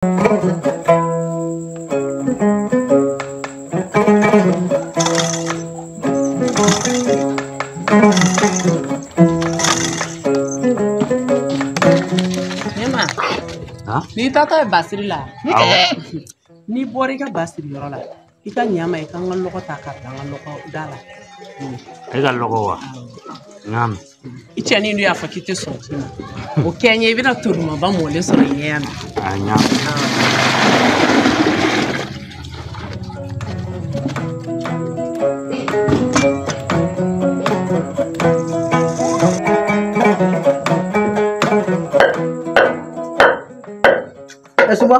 N'i taatɔ ye basiri la n'i bɔra i ka basiri yɔrɔ la I ka ɲa ma i ka n ka lɔgɔ ta ka bila n ka lɔgɔ da la. E ka lɔgɔ wa? N y'a mɛn. I cɛnin dun y'a fɔ k'i tɛ sɔn o ci ma. O kɛ n ye i bɛna to dumanba mɔlen sɔrɔ i ɲɛ yan nɔ. A n y'a mɛn. Ee Suma.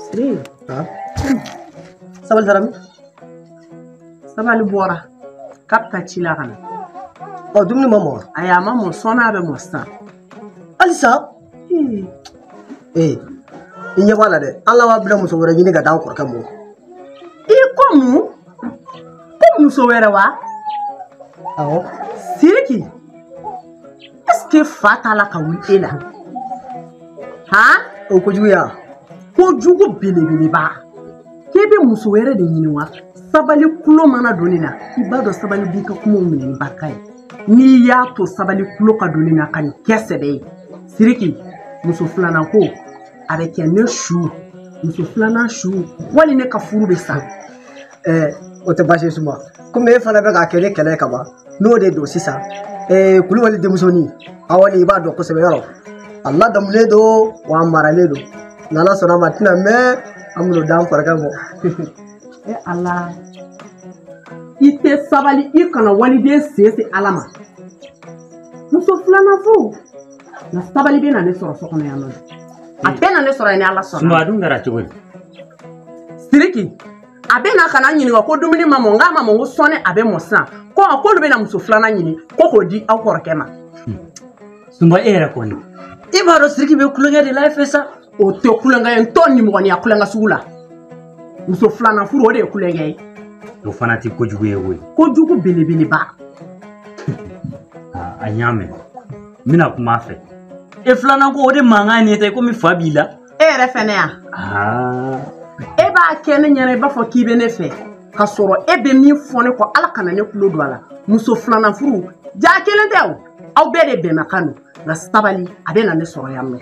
Siri. Sabali taara min. Sabali bɔra. K'a bɛ taa ci la ka na. Ɔ dumuni ma mɔ. Ayi a ma mɔ sɔɔni a bɛ mɔ sisan. Halisa. ee i ɲɛ b'a la dɛ ala an bɛna muso wɛrɛ ɲini k'a d'an kɔrɔkɛ mɔ i ko mun ko muso wɛrɛ wa awɔ siriki ɛsike fa t'a la ka wuli e la han o kojugu ya kojugu belebeleba k'e bɛ muso wɛrɛ de ɲini wa sabali kulo mana don nin na i b'a dɔn sabali b'i ka kumaw minɛ ni barika ye n'i y'a to sabali tulo ka don nin na ka nin kɛ sɛbɛ ye siriki muso filanan ko a bɛ kɛ ne su muso filanan su wali ne ka furu bɛ sa ɛɛ o tɛ baasi ye suma komi e fana bɛ k'a kɛ ne kɛlɛ ye ka ban n'o de don sisan ɛɛ kulubali denmusonin awɔ ni i b'a dɔn kosɛbɛ yɛrɛ a ladamulen don wa a maralen don n'ala sɔnna a ma a tɛna mɛn an b'o d'an kɔrɔkɛ mɔ e ala i tɛ sabali i kana waliden sen se ala ma muso filanan fo nka sabali bɛ na ne sɔrɔ so kɔnɔ yan nɔ a bɛ na ne sɔrɔ yan ni ala sɔnna. sumaworo dun kɛra cogo di. siriki a bɛ na ka na n ɲininka ko dumuni ma mɔ n k'a ma mɔ ko sɔɔni a bɛ mɔ sisan ko a k'olu bɛ na muso filanan ɲini ko k'o di aw kɔrɔkɛ ma. sumaworo e yɛrɛ kɔni. i b'a dɔn siriki bɛ tulonkɛ de la e fɛ sa. o tɛ kulonkɛ ye n t'o nimɔgɔniya kulonkɛ sugu la muso filanan furu o de ye kulonkɛ ye o fana tɛ kojugu ye koyi kojugu belebeleba ah, a y'a mɛn n bɛna kuma a fɛ e filanan ko o de mankan ye ne ta komi fa b'i la e yɛrɛ fɛnɛ yan ah. e b'a kɛ ne ɲɛna i b'a fɔ k'i bɛ ne fɛ ka sɔrɔ e bɛ min fɔ ne kɔ ala kana ne tulo don a la muso filanan furu jaa i kelen tɛ o aw bɛɛ de bɛnmakan don nka sabali a bɛ na ne sɔrɔ yan mɛn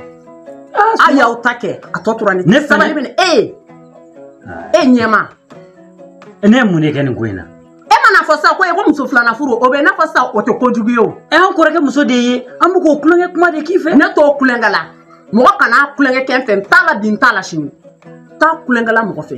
a y'aw ta kɛ a tɔ tora ne ni sabali cɛ ne e ye e ɲɛma ne ye mun de kɛ nin ko in na e mana fɔ sa ko e ko muso filanan furu o bɛ n'a fɔ sa o tɛ kojugu ye o e y'an kɔrɔkɛ muso de ye an bɛ k'o tulonkɛ kuma de k'i fɛ ne t'o tulonkɛ la mɔgɔ kana tulonkɛ kɛ n fɛ n t'a la bi n t'a la sini t'a tulonkɛ la mɔgɔ fɛ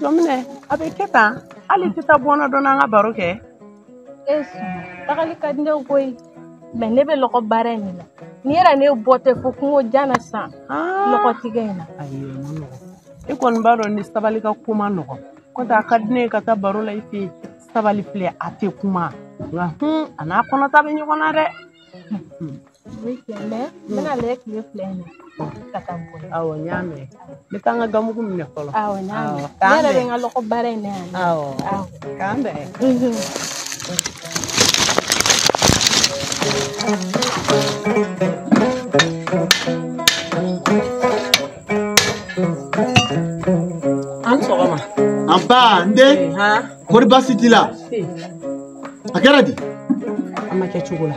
jɔminɛ a bɛ kɛ tan hali i tɛ taa bɔ n na dɔɔni an ka baro kɛ e tagali ka di ne ko ye mɛ ne bɛ lɔgɔ baara in de la n'i yɛrɛ ne bɔ tɛ fo kungo jan na sisan lɔgɔ tigɛ in na e kɔni b'a dɔn ni sabali ka ko man nɔgɔn kɔntɛ a ka di ne ye ka taa baro la i fɛ yen sabali filɛ a tɛ kuma nka a n'a kɔnɔta bɛ ɲɔgɔn na dɛ Mɛ n bɛna a lajɛ tile fila in ka taa bɔ aw ye n y'a mɛn n bɛ taa n ka gabugu minɛ fɔlɔ aw n yɛrɛ bɛ n ka lɔgɔ baara in yan aw k'an bɛn a ni sɔgɔma nba n den kɔri baasi t'i la a kɛra di a ma kɛ cogo la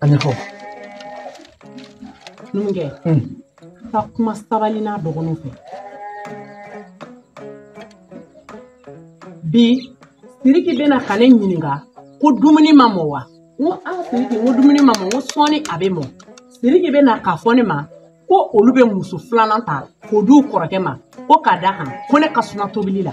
An ye fɔ. Numukɛ. Un. Taa kuma Sabali n'a dɔgɔninw fɛ. Bi Siriki bɛ na ka ne ɲininka ko dumuni ma mɔ wa? N ko a Siriki n ko dumuni ma mɔ n ko sɔɔni a bɛ mɔ. Siriki bɛ na k'a fɔ ne ma ko olu bɛ muso filanan ta k'o di u kɔrɔkɛ ma ko k'a d'a kan ko ne ka suma tobili la.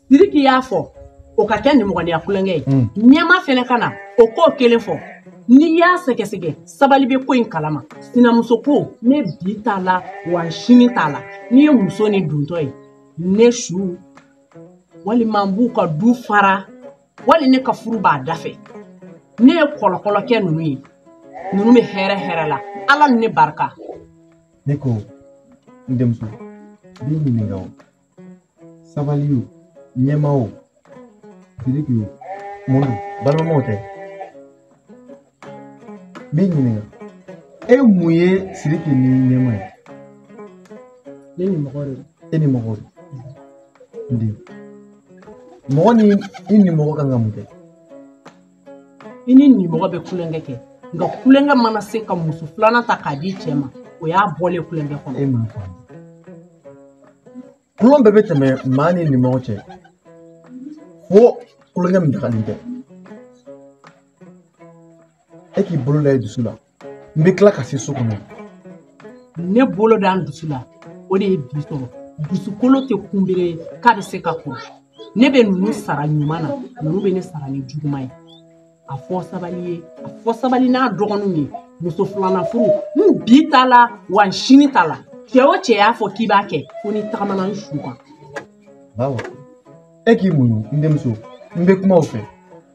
siriki y'a fɔ o ka kɛ nimɔgɔniya kulonkɛ ye mm. ɲɛma fɛnɛ ka na o ko kelen fɔ n'i y'a sɛgɛsɛgɛ sabali bɛ ko in kalama sinamuso ko ne bi t'a la wa sini t'a la n'i ye muso ni duntɔ ye ne su walima n b'u ka du fara wali ne ka furu b'a dafɛ ne ye kɔlɔkɔlɔkɛ ninnu ye ninnu bɛ hɛrɛ hɛrɛ la ala ni ne barika ne ko n denmuso n b'i ɲininka o sabali o ɲɛma o siriki o mun don balimamaw tɛ n b'i ɲininka e mun ye siriki ni ɲɛma ye ne nimɔgɔ de don e nimɔgɔ don n den mɔgɔ ni i nimɔgɔ kan ka mun kɛ i n'i nimɔgɔ bɛ kulonkɛ kɛ nka kulonkɛ mana se ka muso filanan ta k'a di cɛ ma o y'a bɔlen kulonkɛ kɔnɔ kulon bɛɛ bɛ tɛmɛ maa n'i nimɔgɔ cɛ fo kulonkɛ min dagalen tɛ e k'i bolo da i dusu la n bɛ tila ka se so kɔnɔ ne bolo da n dusu la o de ye bi sɔrɔ dusukolo tɛ kunbere ye k'a bɛ se ka kuru ne bɛ ninnu sara ɲuman na ninnu bɛ ne sara ni juguman ye a fɔ sabali ye a fɔ sabali n'a dɔgɔninw ye muso filanan furu n bi t'a la wa n sini t'a la cɛ o cɛ y'a fɔ k'i b'a kɛ fo n'i tagamana n su kan bawo e k'i muɲu n denmuso n bɛ kuma u fɛ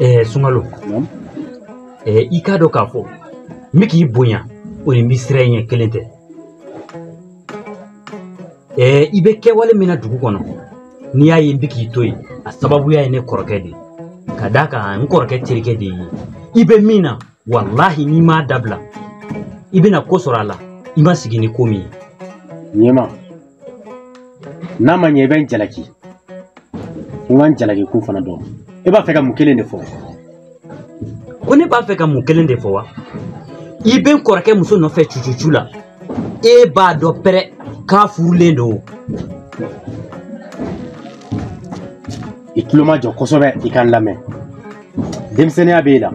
ɛɛ sunkalo ɛɛ i k'a dɔn k'a fɔ n bɛ k'i bonya o ni n bɛ siran i ɲɛ kelen tɛ ɛɛ i bɛ kɛwale min na dugu kɔnɔ n'i y'a ye n bɛ k'i to yen a sababuya ye ne kɔrɔkɛ de ye ka d'a kan n kɔrɔkɛ terikɛ de ye i bɛ min na walahi n'i m'a dabila i bɛna ko sɔrɔ a la i ma sigi ni ko min ye ɲɛma n'a ma ɲɛ i bɛ n jalaki n ka n jalaki ko fana dɔn e b'a fɛ ka mun kelen de fɔ ko ne b'a fɛ ka mun kelen de fɔ wa i bɛ n kɔrɔkɛ muso nɔfɛ cucucu la e b'a dɔn pɛrɛ k'a furulen don i tulomajɔ kosɛbɛ i ka n lamɛn denmisɛnninya b'e la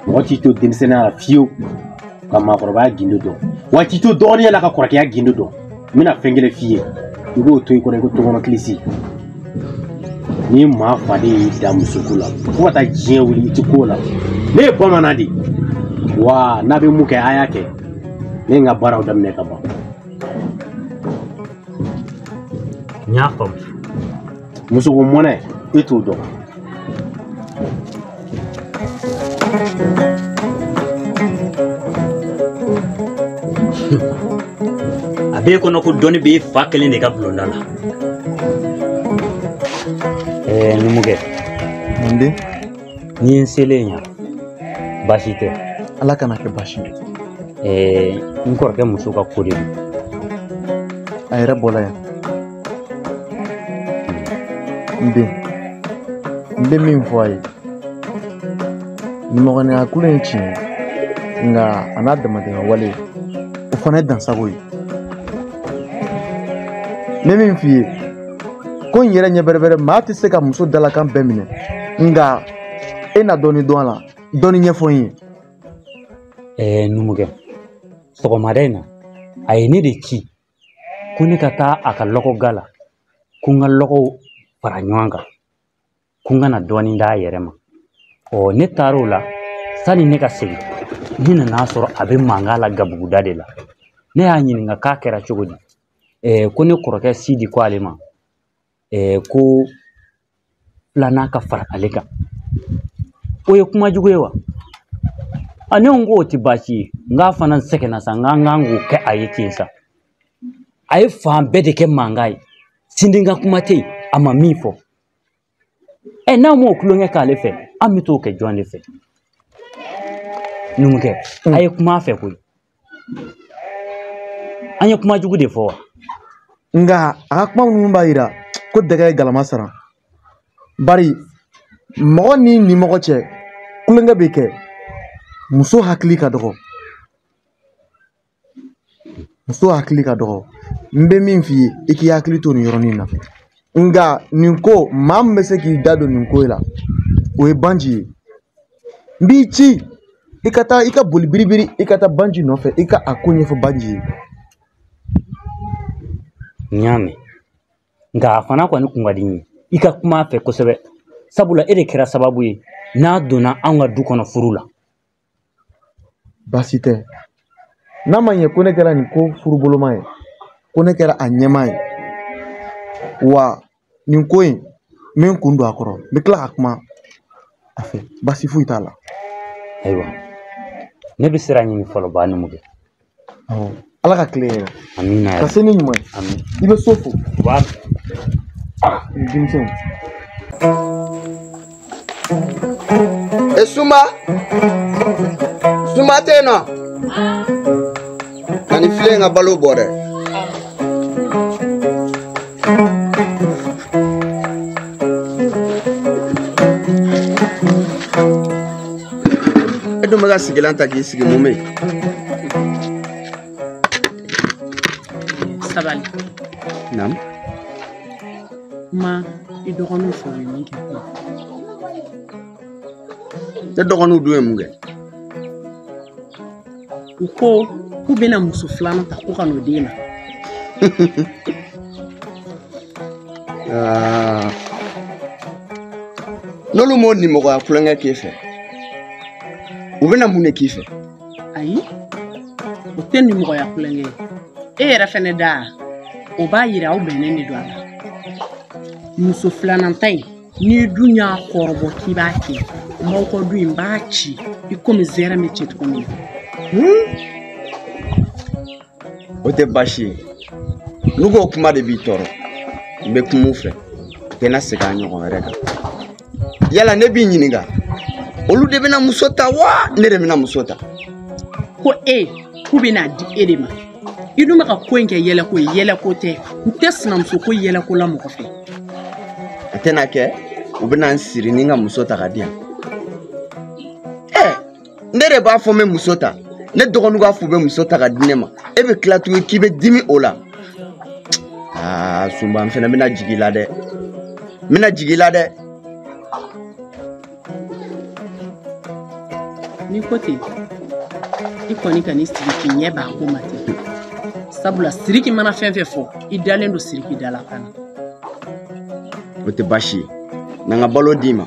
mɔgɔ t'i to denmisɛnninya la fiyewu ka maakɔrɔbaya gindo dɔn wa i t'i to dɔgɔninya la ka kɔrɔkɛya gindo dɔn n bɛna fɛn kelen f'i ye i b'o to i kɔnɔ i ko tɔgɔnɔ kilisi ni maa faden y'i dan musoko la fo ka taa diɲɛ wuli i ti ko la ne ye bamanan de wa n'a bɛ mun kɛ a y'a kɛ ne ye n ka baaraw daminɛ ka ban n y'a faamu musoko mɔnɛ e t'o dɔn a b'e kɔnɔ ko dɔnni b'e fa kelen de ka bulonda la ɛɛ numukɛ n den n'i ye n selen yan baasi tɛ ala kana kɛ baasi ye ɛɛ n kɔrɔkɛ muso ka ko de don a yɛrɛ bɔra yan n den n bɛ min fɔ a ye nimɔgɔniya tulon ye tiɲɛ ye nka a n'a damatɛmɛ wale o fana ye dansago ye n bɛ min f'i ye ko in yɛrɛ ɲɛ bɛrɛbɛrɛ maa tɛ se ka muso dalakan bɛɛ minɛ nka e na dɔɔni dɔn a la dɔɔni ɲɛfɔ n ye ɛɛ numukɛ sɔgɔmada in na a ye ne de ci ko ne ka taa a ka lɔgɔ ga la ko n ka lɔgɔw fara ɲɔgɔn kan ko n ka na dɔɔnin d'a yɛrɛ ma ɔ ne taar'o la sani ne ka segin ne nan'a sɔrɔ a bɛ mankan la gabuguda de la ne y'a ɲininka k'a kɛra cogo di ko ne kɔrɔkɛ sidi ko ale ma ko filanan ka fara ale kan o ye kuma jugu ye wa a ne ko o tɛ baasi ye nk'a fana sɛgɛnna sa n k'an kan k'o kɛ a ye ten sa a ye fan bɛɛ de kɛ mankan ye sini ka kuma tɛ yen a ma min fɔ ɛ n'an m'o tulonkɛ k'ale fɛ an bɛ t'o kɛ jɔn de fɛ numukɛ a ye kuma a fɛ koyi an ye kuma jugu de fɔ wa nka a ka kuma minnu b'a yira ko dɛgɛ ye galama sara bari mɔgɔ ni nimɔgɔ cɛ tulonkɛ bɛ kɛ muso hakili ka dɔgɔ muso hakili ka dɔgɔ n bɛ min f'i ye i k'i hakili to nin yɔrɔnin na nka nin ko maa min bɛ se k'i da don nin ko in la o ye banji ye n b'i ci i ka taa i ka boli biribiri i ka taa banji nɔfɛ i ka a ko ɲɛfɔ banji ye n y'a mɛn nka a fana kɔni kun ka di n ye i ka kuma a fɛ kosɛbɛ sabula e de kɛra sababu ye n'a donna anw ka du kɔnɔ furu la baasi tɛ n'a ma ɲɛ ko ne kɛra nin ko furuboloma ye ko ne kɛra a ɲɛmaa ye wa nin ko in n bɛ n kun don a kɔrɔ n bɛ tila ka kuma a fɛ baasi foyi t'a la ayiwa ne bɛ sira ɲini fɔlɔ ba numukɛ ala ka tile hɛɛrɛ amina ka se ni ɲuman ye amin i bɛ so fo ba denmisɛnw e suma suma tɛ yen nɔ ka ni filen ka balo bɔ dɛ e dun bɛ ka sigilan ta k'i sigi mun bɛ yen sabali naamu Ma i dɔgɔninw fɛ u ye min kɛ kuma ne dɔgɔninw dun ye mun kɛ u ko k'u bɛna muso filanan ta ko ka n'o den na Aa. n'olu m'o nimɔgɔya tulonkɛ k'i fɛ u bɛna mun de k'i fɛ ayi o tɛ nimɔgɔya tulonkɛ ye e yɛrɛ fɛnɛ da o b'a yira aw bɛnnen de don a la muso filanan ta in n'i dun y'a kɔrɔbɔ k'i b'a kɛ n b'aw ka du n b'a ci i komi zɛrɛ bɛ ci cogo min na o tɛ baasi ye n'i ko o kuma de b'i tɔɔrɔ n bɛ kuma u fɛ u tɛna segin a ɲɔgɔn wɛrɛ kan yala ne b'i ɲininka olu de bɛna muso ta wa ne de bɛna muso ta ko e k'u bɛn'a di e de ma i dun bɛ ka ko in kɛ yɛlɛko ye yɛlɛko tɛ n tɛ sinamuso ko yɛlɛko la mɔgɔ fɛ a tɛna kɛ u bɛna n siri ni n ka muso ta ka di yan ne de b'a fɔ n bɛ muso ta ne dɔgɔninw k'a fɔ u bɛ muso ta ka di ne ma e bɛ tila tuguni k'i bɛ dimi o la aa sunba n fana bɛna jigin i la dɛ n bɛna jigin i la dɛ. n'i ko ten i kɔni kan'i sigi k'i ɲɛ b'a ko ma ten sabula siriki mana fɛn fɛn fɔ i dalen don siriki da la fana. o tɛ baasi ye na n ka balo d'i ma.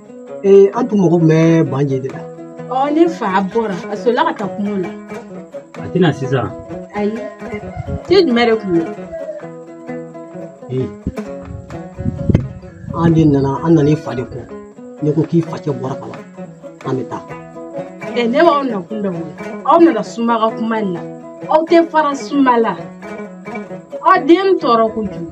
ee an tun mago bɛ banje de la ɔ ne fa bɔra a solila ka taa kungo la a tɛ na sisan ayi te jumɛn de kun ye ee an de nana an nana i fa de kɔ ne ko k'i facɛ bɔra ka ban an bɛ taa ɛ ne b'aw nakun dɔn o aw nana sunba ka kuma de la aw tɛ fara sunba la aw bɛ n tɔɔrɔ kojugu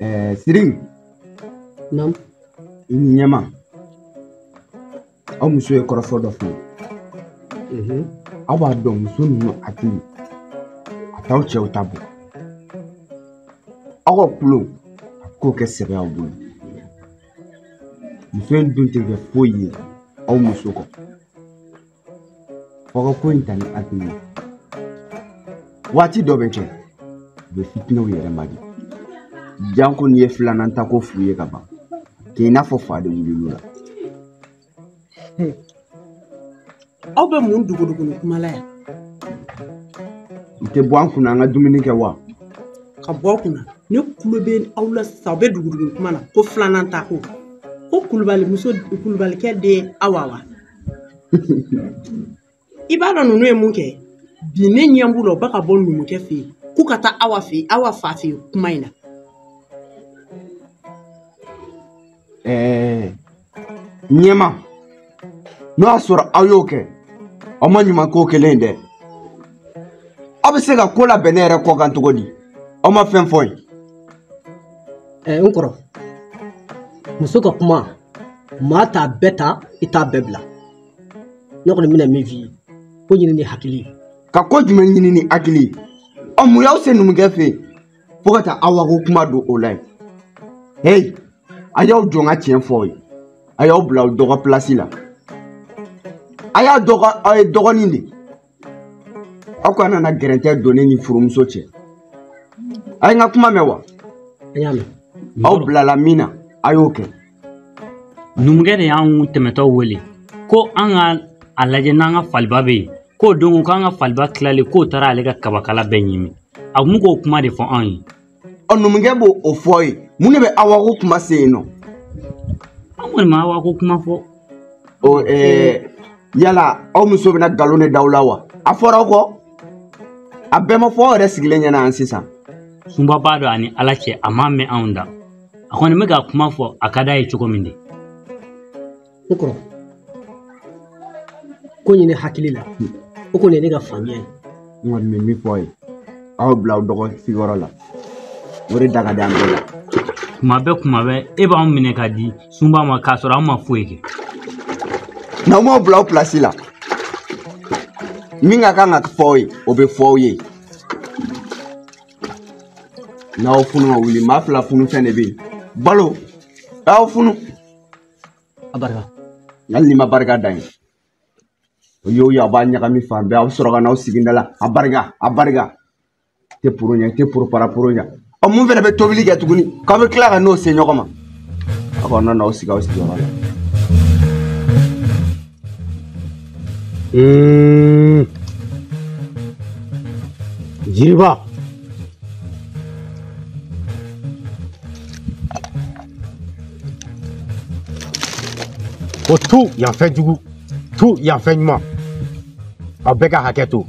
ɛɛ siri Naamu. i ni ɲɛma aw muso ye kɔrɔfɔ dɔ fɔ Mhm. aw b'a dɔn muso ninnu hakili a t'aw cɛw ta bɔ aw ka kulo a k'o kɛ sɛbɛ aw bolo muso in dun tɛ kɛ foyi ye aw muso kɔ f'aw ka ko in ta ni hakili ye waati dɔ bɛ kɛ u bɛ fitinɛw yɛrɛ man di janko n'i ye filanan ta ko f'u ye ka ban k'i n'a fɔ fa de wulil'u la aw bɛ mun dogodogonin kuma la yan i tɛ bɔ an kunna an ka dumuni kɛ wa ka bɔ aw kunna ne tulo bɛ aw la sisan aw bɛ dugudugu kuma na ko filanan ta ko ko kulubali muso kulubalikɛ den awa wa i b'a dɔn ninnu ye mun kɛ bi ne ɲɛ b'u la u bɛ ka bɔ numukɛ fɛ yen k'u ka taa awa fɛ yen awa fa fɛ yen kuma in na. ɛɛ ɲɛma n'o y'a sɔrɔ aw y'o kɛ aw ma ɲuman k'o kelen dɛ aw bɛ se ka ko labɛn ne yɛrɛ kɔkan cogo di aw ma fɛn fɔ n ye. ɛɛ n kɔrɔ muso ka kuma maa t'a bɛɛ ta i t'a bɛɛ bila ne kɔni bɛna min f'i ye ko ɲini ni hakili ye ka ko jumɛn ɲini ni hakili ye ɔ mun y'aw se numukɛ fɛ yen fo ka taa awa ko kuma don o la yen heyi a y'aw jɔ n ka tiɲɛ fɔ aw ye a y'aw bila aw dɔgɔ pilasi la a y'a dɔn ko aw ye dɔgɔnin de aw kana na gɛrɛntɛ don ne ni furumuso cɛ a ye n ka kuma mɛn wa an y'a mɛn aw bilala min na a y'o kɛ numukɛ de y'an tɛmɛtɔ wele ko an ka a lajɛ n'an ka faliba bɛ yen k'o don ko k'an ka faliba tilalen k'o taara ale ka kabakala bɛɛ ɲimi a tun bɛ k'o kuma de fɔ anw ye ɔ numukɛ b'o o fɔ ye mun de bɛ awa ko kuma se yen nɔ an kɔni ma awa ko kuma fɔ ɔ ɛɛ yala aw muso bɛna nkalon de da aw la wa a fɔra aw kɔ a bɛɛ ma fɔ aw yɛrɛ sigilen ɲɛna yan sisan sunba b'a dɔn ani ala cɛ a m'a mɛn anw da a kɔni bɛ ka kuma fɔ a ka d'a ye cogo min de n kɔrɔ ko ɲini hakili la o kɔni ye ne ka faamuya ye n kɔni bɛ min fɔ a ye aw bila aw dɔgɔ sigiyɔrɔ la o de da ka di an bɛɛ la tuma bɛɛ tuma bɛɛ e b'anw minɛ ka di sunba ma k'a sɔrɔ an ma foyi kɛ n'aw m'aw bila aw pilasi la min ka kan ka fɔ aw ye o bɛ fɔ aw ye n'aw funu ma wuli maa fila funu fɛn de bɛ yen balo aw funu a barika hali n'i ma barika da yen o y'o ye a b'a ɲagami fan bɛɛ a bɛ sɔrɔ ka n'aw sigi n da la a barika a barika tɛ poro ɲɛ tɛ poro para poro ɲɛ ɔ mun fana bɛ tobili kɛ tuguni k'aw bɛ tila ka n'o se ɲɔgɔn ma aw ka n'aw sigi aw sigiyɔrɔ la Mm. Jiriba o tu yan fɛn jugu tu yan fɛn ɲuman aw bɛɛ ka hakɛ to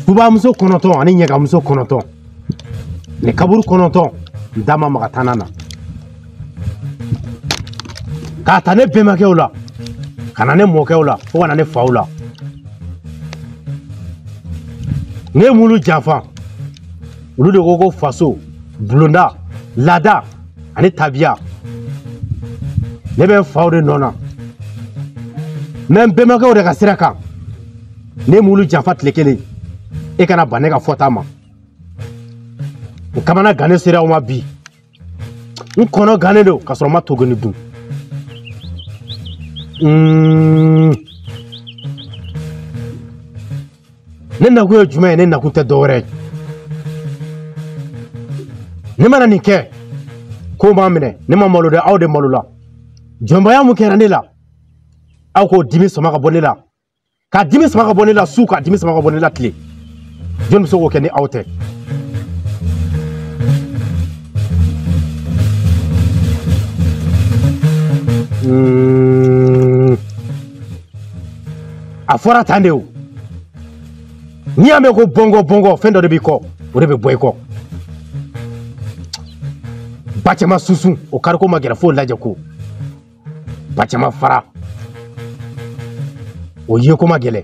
Subamuso kɔnɔntɔn ani ɲagamuso kɔnɔntɔn ni kaburu kɔnɔntɔn n da ma maga tana na k'a ta ne bɛnbakɛw la ka na ne mɔkɛw la fo ka na ne faw la ne m'olu janfa olu de ko ko faso bulonda laada ani tabiya ne bɛ n faw de nɔ na n bɛ n bɛnbakɛw de ka sira kan ne m'olu janfa tile kelen e kana ban ne ka fɔta ma n kamanagannen sera aw ma bi n kɔnɔ gannen don k'a sɔrɔ n ma to goni dun Mm. ne nakun ye jumɛn ye ne nakun tɛ dɔwɛrɛ ye ne mana nin kɛ k'o ma minɛ ne ma malo dɛ aw de malola jɔnmaya mun kɛra ne la aw k'o dimi sama ka bɔ ne la ka dimi sama ka bɔ ne la su ka dimi sama ka bɔ ne la tile jɔn bɛ se k'o kɛ ni aw tɛ Mm. a fɔra tan de o n'i y'a mɛn ko bɔnkɔ bɔnkɔ fɛn dɔ de b'i kɔ o de bɛ bɔ i kɔ ba caman susu o kariko ma gɛlɛn f'o lajɛko ba caman fara o yeko ma gɛlɛn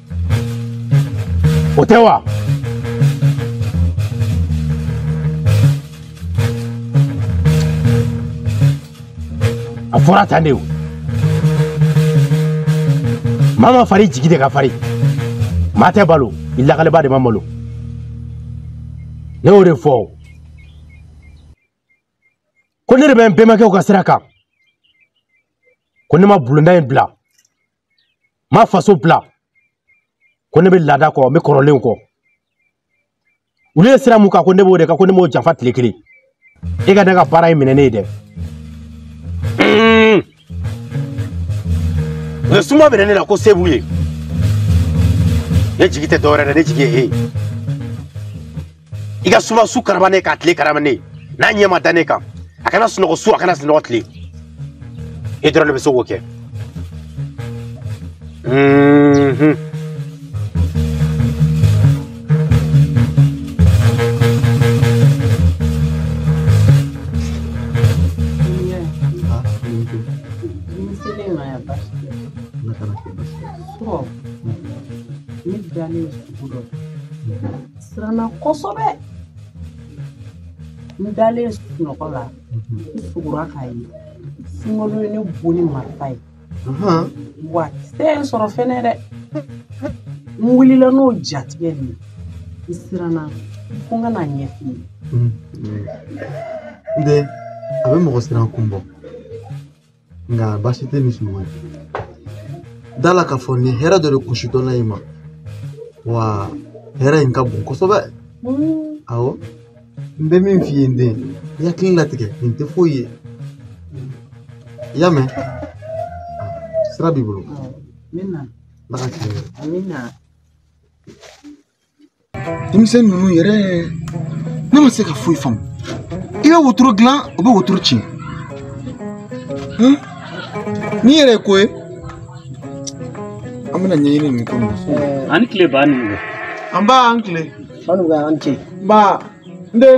o tɛ wa. a fɔra tan de o maa ma fari jigi de ka fari maa tɛ malo i lakaleba de ma malo ne y'o de fɔ ko ne de bɛ n bɛnbakɛw ka sira kan ko ne ma bulonda in bila ma faso bila ko ne bɛ laada kɔ n bɛ kɔrɔlenw kɔ olu ye sira mun kan ko ne b'o de kan ko ne m'o janfa tile kelen e ka ne ka baara in minɛ ne ye dɛ u ye Suma minɛ ne la ko se b'u ye ne jigi tɛ dɔwɛrɛ dɛ ne jigi ye e ye i ka Suma su karaba ne k'a tile karaba ne n'a ɲɛ ma da ne kan a kana sunɔgɔ su a kana sunɔgɔ tile e dɔrɔn de bɛ se k'o kɛ surɔ ne dalen sugo dɔ siranna kosɛbɛ n dalen sunɔgɔ la n sugora k'a ye Sunkalo ye ne bon ni marifa ye wa kisɛ ye n sɔrɔ fɛnɛ dɛ n wulila n'o jatigɛ de ye n siranna ko n ka n'a ɲɛf'i ye n den a bɛ mɔgɔ siran kun bɔ nka baasi tɛ ni sunɔgɔ ye da la k'a fɔ nin hɛrɛ dɔ de kun sintɔ la i ma wa hɛrɛ in ka bon kosɛbɛ awɔ n bɛ min f'i ye n den i hakili latigɛ nin tɛ foyi ye i y'a mɛn sira b'i bolo ala ka tiɲɛ denmisɛn ninnu yɛrɛ ne ma se ka foyi faamu i bɛ wotoro dilan o bɛ wotoro tiɲɛ n'i yɛrɛ ye ko ye an bɛna ɲɛɲini nin ko nin ani tile ba nin an ba an tile ba nin an ce ba n den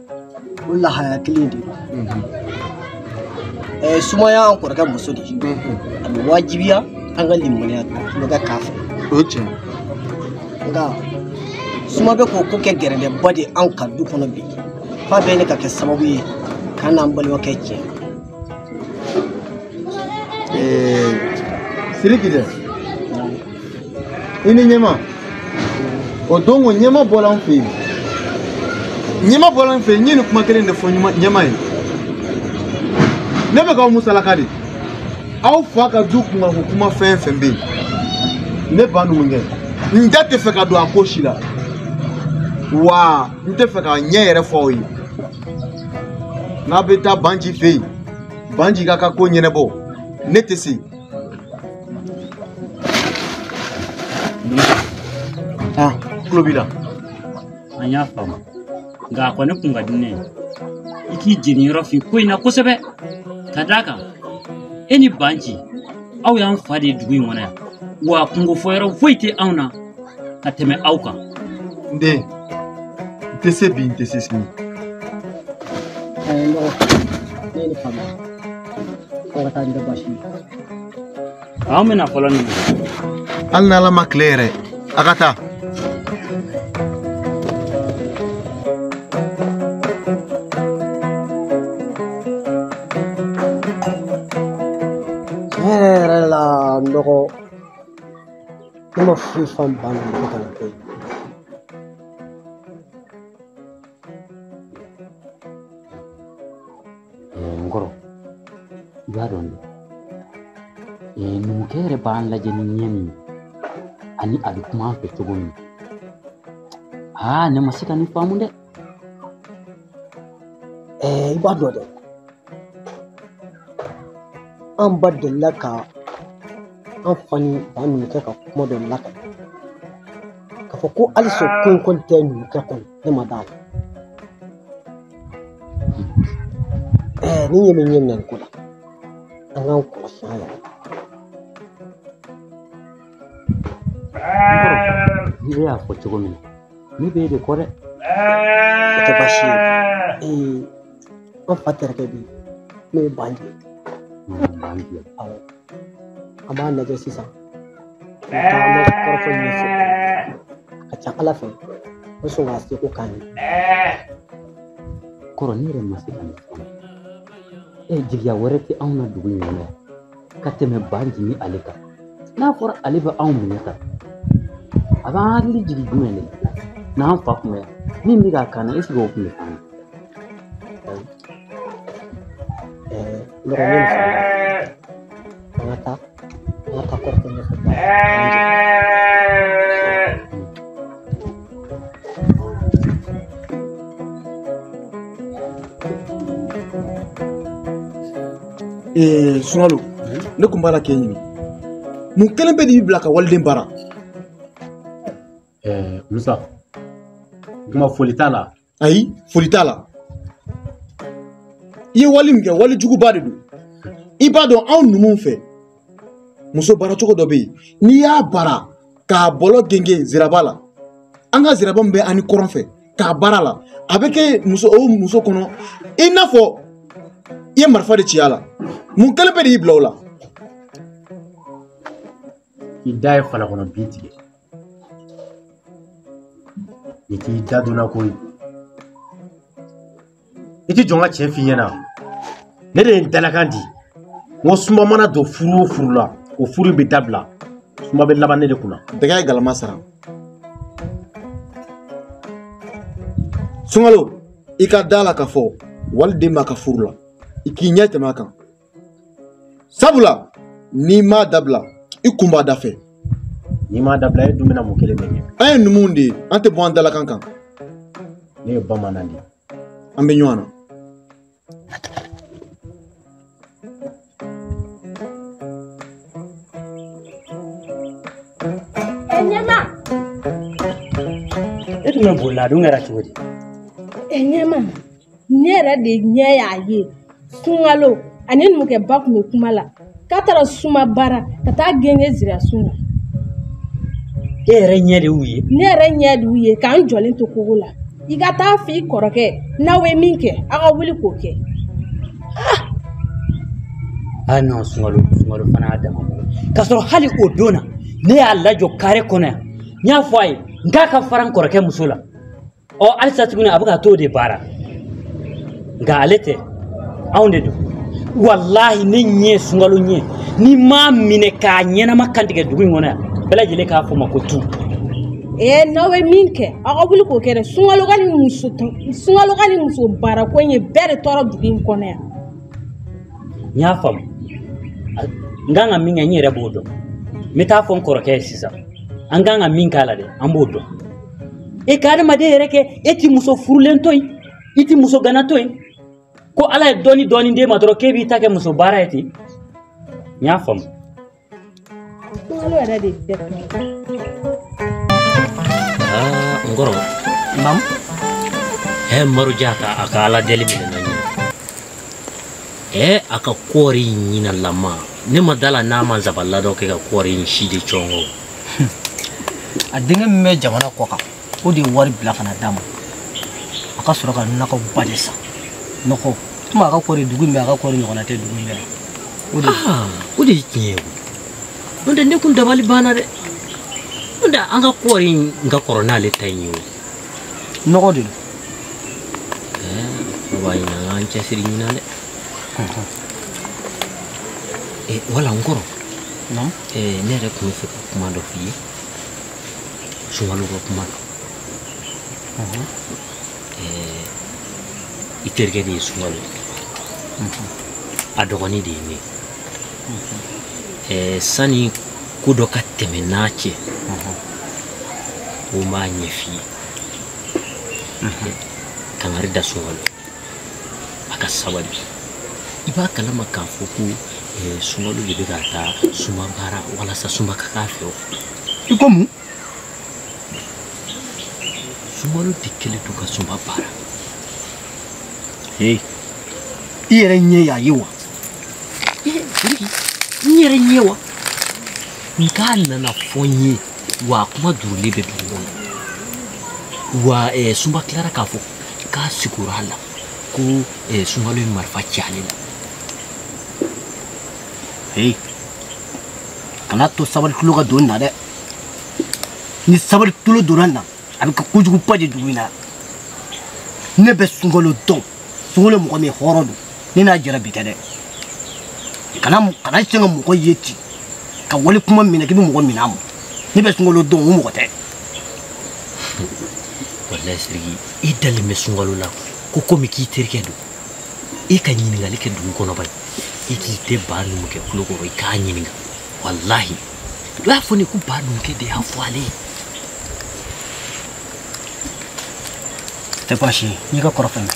o lahaya kelen de don ɛɛ sumaya an kɔrɔkɛ muso de a bɛ wajibiya an ka nimɔgɔniya tulonkɛ k'a fɛ o ye tiɲɛ nka suma bɛ k'o ko kɛ gɛrɛntɛba de ye anw ka du kɔnɔ bi f'a bɛ ɲini ka kɛ sababu ye k'an n'an balimakɛ tiɲɛ siriki dɛ i ni ɲɛma o don ko ɲɛma bɔra n fɛ yen ɲɛma bɔra n fɛ yen n ye nin kuma kelen de fɔ ɲɛma ye ne bɛ k'aw musalaka de aw fa ka du kunkanko kuma fɛn fɛn bɛ yen ne ba numukɛ n da tɛ fɛ ka don a ko si la wa n tɛ fɛ k'a ɲɛ yɛrɛ fɔ aw ye n'a bɛ taa banji fɛ yen banji ka ka ko ɲɛnabɔ ne tɛ se an tulo b'i la an y'a faamu nka a kɔni tun ka di ne ye i k'i jeniyɔrɔ fin ko in na kosɛbɛ ka d'a kan e ni banji aw y'an fa de ye dugu in kɔnɔ yan wa kunko fɔyɔrɔ foyi tɛ anw na ka tɛmɛ aw kan n den n tɛ se bi n tɛ se sini a ye n dɔgɔ ne ye nin faamu kɔrɔ taa o tɛ baasi ye anw bɛna fɔlɔ nin na hali n'ala ma tile yɛrɛ a ka taa tiɲɛ yɛrɛ yɛrɛ la n dɔgɔ ne ma foyi faamu ba ninnu ko kana kɛ n kɔrɔ i b'a dɔn dɛ ee, numukɛ yɛrɛ b'an lajɛ ni ɲɛ min ye ani a bɛ kuma an fɛ cogo min aa ne ma se ka nin faamu dɛ ɛɛ i b'a dɔn dɛ an ba delila ka an fa ni ba numukɛ ka kuma dɔ lakali k'a fɔ ko halisa ko in kɔni tɛ numukɛ kɔni ne ma d'a la ɛɛ ni ɲɛ bɛ ɲɛ minɛ nin ko la an k'an kɔlɔsi an yɛrɛ ni e y'a fɔ cogo min na ne bɛ e de kɔ dɛ o tɛ baasi ye ee an fa terikɛ bi n'o ye banji ye awɔ an b'a lajɛ sisan an bɛ taa an bɛ kɔrɔfɔ ɲini a fɛ a ka ca ala fɛ o sɔn k'a seko k'an ye kɔrɔ ne yɛrɛ ma se ka nin fɔ e jigiya wɛrɛ tɛ anw na dugu in kɔnɔ yan ka tɛmɛ banji ni ale kan n'a fɔra ale bɛ anw minɛ ta a b'an hakili jigin jumɛn de n'an fa kun bɛ yan min bɛ k'a kan na eseke o tun bɛ kan an ka taa an ka taa kɔrɔfɔ ɲɛfɛ sunkalo ne tun b'a la k'e ɲini mun kelen pe de b'i bila ka waliden baara musa kuma foli t'a la ayi foli t'a la i ye wali min kɛ wali juguba de don i b'a dɔn anw numuw fɛ muso baara cogo dɔ bɛ yen n'i y'a baara k'a bɔlɔ gengen ziraba la an ka ziraba min bɛ an ni kɔrɔn fɛ k'a baara la a bɛ kɛ muso o muso kɔnɔ i n'a fɔ i ye marifa de ci a la mun kelen pe de y'i bila o la i da ye fala kɔnɔ bin tigɛ i t'i da donna ko ye i t'i jɔ n ka cɛn f'i ɲɛ na ne de ye n dalakan di n ko suma mana don furu o furu la o furu bɛ dabila suma bɛ laban ne de kunna dɛgɛ ye galama sara sunkalo i ka da la k'a fɔ waliden b'a ka furu la i k'i ɲɛ tɛmɛ a kan sabula n'i m'a dabila i kun b'a da fɛ n'i m'a dabila e dun bɛna mun kelen de kɛ an ye numuw de ye an tɛ bɔ an dalakan kan ne ye bamanan de ye an bɛ ɲɔgɔn na Enyema. E tun bɛ boli la a dun kɛra cogo di? Enyema. ne yɛrɛ de ɲɛ y'a ye sunkalo ani numukɛba tun bɛ kuma la k'a taara suma baara ka taa gengen zirasun na e yɛrɛ ɲɛ de y'u ye ne yɛrɛ ɲɛ de y'u ye ka n jɔlen to kogo la i ka taa f'i kɔrɔkɛ n'aw bɛ min kɛ aw ka wuli k'o kɛ ah! a nɔ sunkalo sunkalo fana y'a dama k'a sɔrɔ hali o don na ne y'a lajɔ kare kɔnɔ yan n y'a fɔ a ye n k'a ka fara n kɔrɔkɛ muso la ɔ halisa tuguni a bɛ ka t'o de baara nka ale tɛ anw de don walahi ni n ye sunkalo ye ni n m'a minɛ k'a ɲɛnama kantigɛ dugu in kɔnɔ yan bɛɛ lajɛlen k'a fɔ n ma ko tu ee n'aw bɛ min kɛ aw ka wuli k'o kɛ dɛ sunkalo ka nin muso sunkalo ka nin muso baarako in ye bɛɛ de tɔɔrɔ dugu in kɔnɔ yan n y'a faamu n kan ka min kɛ n yɛrɛ b'o dɔn n bɛ taa fɔ n kɔrɔkɛ ye sisan an kan ka min k'a la dɛ an b'o dɔn e ka adamaden yɛrɛ kɛ e ti muso furulen to yen i ti muso gana to yen ko ala ye dɔɔni dɔɔni d'e ma dɔrɔn k'e b'i ta kɛ muso baara ye ten n y'a faamu kunkolo yɛrɛ de dɛsɛ n kɔrɔ naamu ɛ maroja ka a ka ala deli minɛna ɲinan ɛ a ka kɔɔri ɲinalama ne ma da a la n'a ma nsabalila dɔ kɛ ka kɔɔri in si de cɔngɔ a denkɛ min bɛ jamana kɔkan o de ye wari bila ka na d'a ma a ka sɔrɔ ka nɔgɔba de san nɔgɔ komi a ka kɔɔri dugu in bɛɛ a ka kɔɔri ɲɔgɔnna tɛ dugu in bɛɛ o de ah, o de ye tiɲɛ ye n'o tɛ ne kun dabali banna dɛ n'o tɛ an ka kɔɔri in ka kɔrɔ n'ale ta in ye o nɔgɔ de don eh, ne b'a ɲini an k'an cɛsiri ɲinan dɛ Eh, wala n kɔrɔ non eh, ne yɛrɛ tun bɛ fɛ ka kuma dɔ f'i ye sunkalo ka kuma don mhm. eh, i terikɛ de ye sunkalo mhm. a dɔgɔnin de ye ne mhm. sani ko dɔ ka tɛmɛ n'a cɛ ko n b'a ɲɛf'i ye kangari da sunkalo a ka sabali i b'a kalama k'a fɔ ko eh, sunkalo de bɛ ka taa sunba baara walasa sunba ka k'a fɛ o i ko mun sunkalo de kɛlen don ka sunba baara ee i yɛrɛ ɲɛ y'a ye wa n yɛrɛ ɲɛ wa nka a nana fɔ n ye wa kuma duurulen bɛ dugu kɔnɔ wa eh, sunba tilara k'a fɔ k'a sigara a la ko eh, sunkalo ye marifa ci ale la ee kana a to sabali tulo ka don na dɛ ni sabali tulo donna na a bɛ kɛ kojuguba ye dugu in na ne bɛ sunkalo dɔn sunkalo mɔgɔ min hɔrɔn don ne n'a jɛra bi tɛ dɛ kana kana siga mɔgɔ ye ten ka wali kuma minɛ k'i bɛ mɔgɔ minɛ a ma ne bɛ sunkalo dɔn o mɔgɔ tɛ walayi siriki i dalen bɛ sunkalo la ko komi k'i terikɛ don i ka ɲininkali kɛ dugu kɔnɔ bani i k'i tɛ baa numukɛ tulo kɔrɔ i k'a ɲininka walahi i b'a fɔ ne ko baa numukɛ de y'a fɔ ale ye tɛ baasi ye n'i ka kɔrɔ fɛn bɛɛ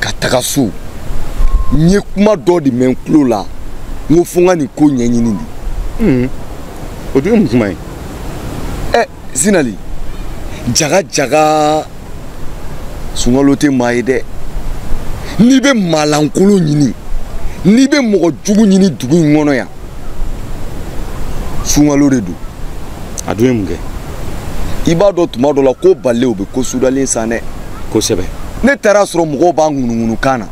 ka taga so n ye kuma dɔ de mɛn n tulo la n ko fo n ka nin ko ɲɛɲini de. Hmm. o dun ye mun kuma ye. ɛ eh, sinali jaga jaga sunkalo tɛ maa ye dɛ n'i bɛ maalankolon ɲini n'i bɛ mɔgɔ jugu ɲini dugu in kɔnɔ yan sunkalo de don a dun ye mun kɛ i b'a dɔn tuma dɔ la ko bale u bɛ ko sudalen san dɛ kosɛbɛ ne taara a sɔrɔ mɔgɔw b'a ŋunuŋunu kan na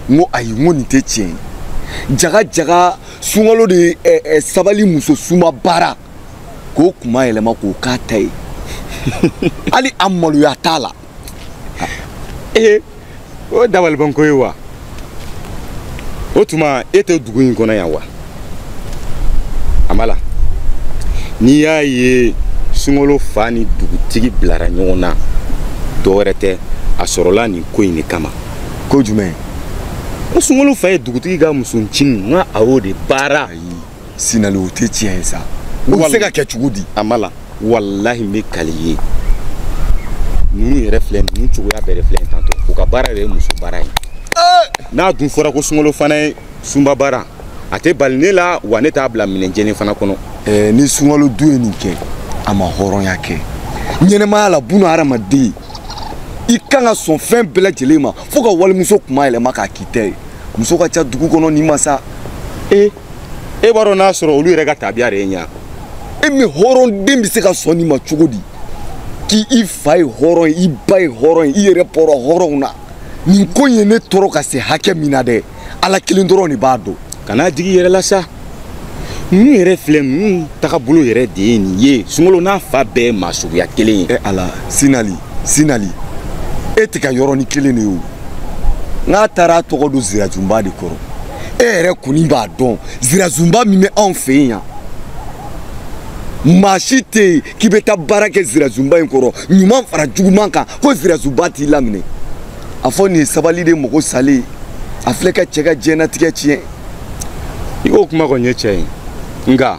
n ko ayi n ko nin tɛ tiɲɛ ye jaga jaga sunkalo de ye ɛ ɛ sabali muso suma baara k'o kuma yɛlɛma k'o k'a ta ye hali a maloya t'a la ee o dabalibanko ye wa o tuma e tɛ dugu in kɔnɔ yan wa a ma la n'i y'a ye sunkalo fa ni dugutigi bilara ɲɔgɔn na dɔ wɛrɛ tɛ a sɔrɔla nin ko in de kama ko jumɛn ko sunkalo fa ye dugutigi ka musoncinin n ka a y'o de baara sinali o tɛ tiɲɛ ye sa o bɛ se ka kɛ cogo di a ma la walahi n bɛ kali i ye ninnu yɛrɛ filɛ ninnu cogoya bɛɛ de filɛ nin tantɔ u ka baara yɛrɛ ye muso baara ye n'a dun fɔra ko sunkalo fana ye suma baara a tɛ bali ne la wa ne t'a bila minɛn jɛlen fana kɔnɔ eh, ni sunkalo de ye nin kɛ a ma hɔrɔnya kɛ ɲɛnɛmaya la buna hadamaden i kan ka sɔn fɛn bɛɛ lajɛlen ma fo ka walimuso kuma yɛlɛma k'a k'i ta ye muso ka ca dugu kɔnɔ n'i ma sa e e b'a dɔn n'a sɔrɔ olu yɛrɛ ka tabiya de ye ɲa e min hɔrɔnden bɛ se ka sɔn nin ma cogo di k'i i fa ye hɔrɔn ye i ba ye hɔrɔn ye i yɛrɛ bɔra hɔrɔnw na nin ko in ye ne tɔɔrɔ ka se hakɛ min na dɛ ala kelen dɔrɔn de b'a dɔn kan'a digi i yɛrɛ la sa ninnu yɛrɛ filɛ ninnu tagabolo yɛrɛ de ye nin ye sunkalo n'a fa bɛɛ ye maa suguya kelen ye e ala sinali sinali e tɛ ka yɔrɔnin kelen de ye o n'a taara a tɔgɔ don zirazunba de kɔrɔ e yɛrɛ kɔni b'a dɔn zirazunba min bɛ anw fɛ yen yan maa si tɛ yen k'i bɛ taa baara kɛ zirazunba in kɔrɔ ɲuman fara juguman kan ko zirazunba t'i laminɛ a fɔ nin ye sabali de mago salen ye a filɛ ka cɛ ka diɲɛnatigɛ tiɲɛ i k'o kuma kɔni ye tiɲɛ ye nka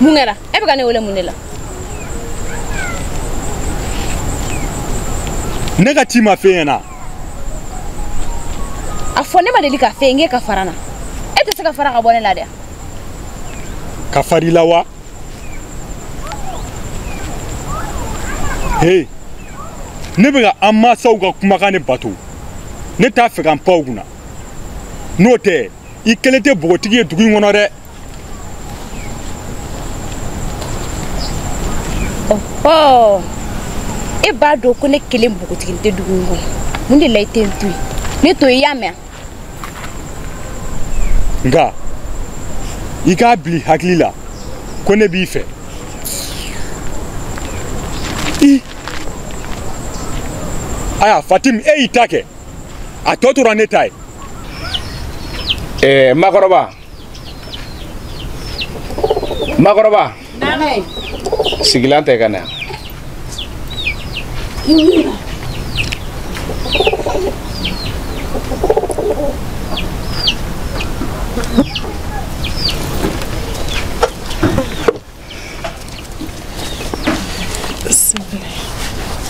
mun kɛra e bɛ ka ne wele mun de la ne ka ci ma fɛn ɲɛna a fɔ ne ma deli ka fɛn kɛ ka fara na e tɛ se ka fara ka bɔ ne la dɛ ka fari la wa hey ne bɛ ka an mansaw ka kumakan de bato ne t'a fɛ ka n paw kunna n'o tɛ i kelen tɛ bogotigi ye dugu in kɔnɔ dɛ ɔhɔ e b'a dɔn ko ne kelen bogotigi tɛ dugu in kɔnɔ mun de la i tɛ n to yen ne to i y'a mɛn nka i k'a bil'i hakili la ko ne b'i fɛ i aya fatim e y'i ta kɛ a tɔ tora ne ta ye ɛɛ makɔrɔba makɔrɔba sigilan tɛ ka na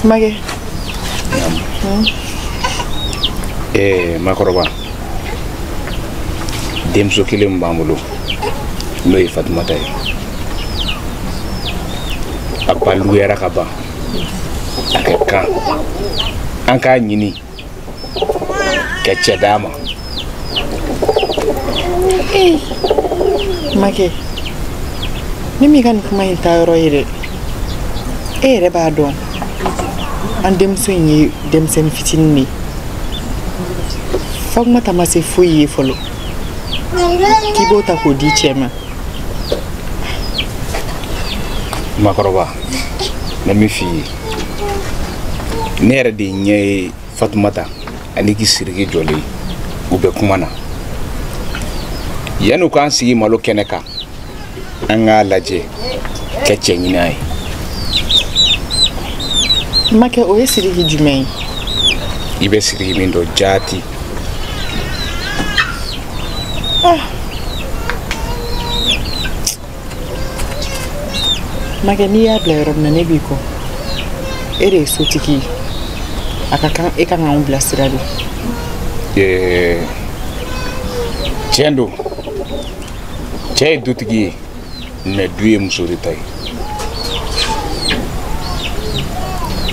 Makɛ. Ee makɔrɔba denmuso kelen min b'an bolo n'o ye fatumata ye a balikuyara ka ban a ka kan an k'a ɲini ka cɛ d'a ma makɛ ne m'i ka nin kuma in ta yɔrɔ ye dɛ e yɛrɛ b'a dɔn an denmuso in ye denmisɛnnin fitinin de ye fatumata ma se foyi ye fɔlɔ k'i b'o ta k'o di cɛ ma makɔrɔba na min f'i ye ne yɛrɛ de ɲɛ ye fatumata ani k'i siriki jɔlen u bɛ kuma na yanni u k'an sigi malo kɛnɛ kan an k'a lajɛ ka cɛ ɲin'a ye makɛ o ye siriki jumɛn ye i bɛ siriki min dɔn jaati ah. makɛ n'i y'a bila yɔrɔ min na ne b'i kɔ e de ye sotigi ye a ka kan e ka kan k'anw bilasira de tiɲɛ don cɛ ye dutigi ye mɛ du ye muso de ta ye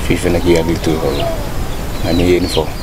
f'i fana k'i hakili to o yɔrɔ la nka n'i ye nin fɔ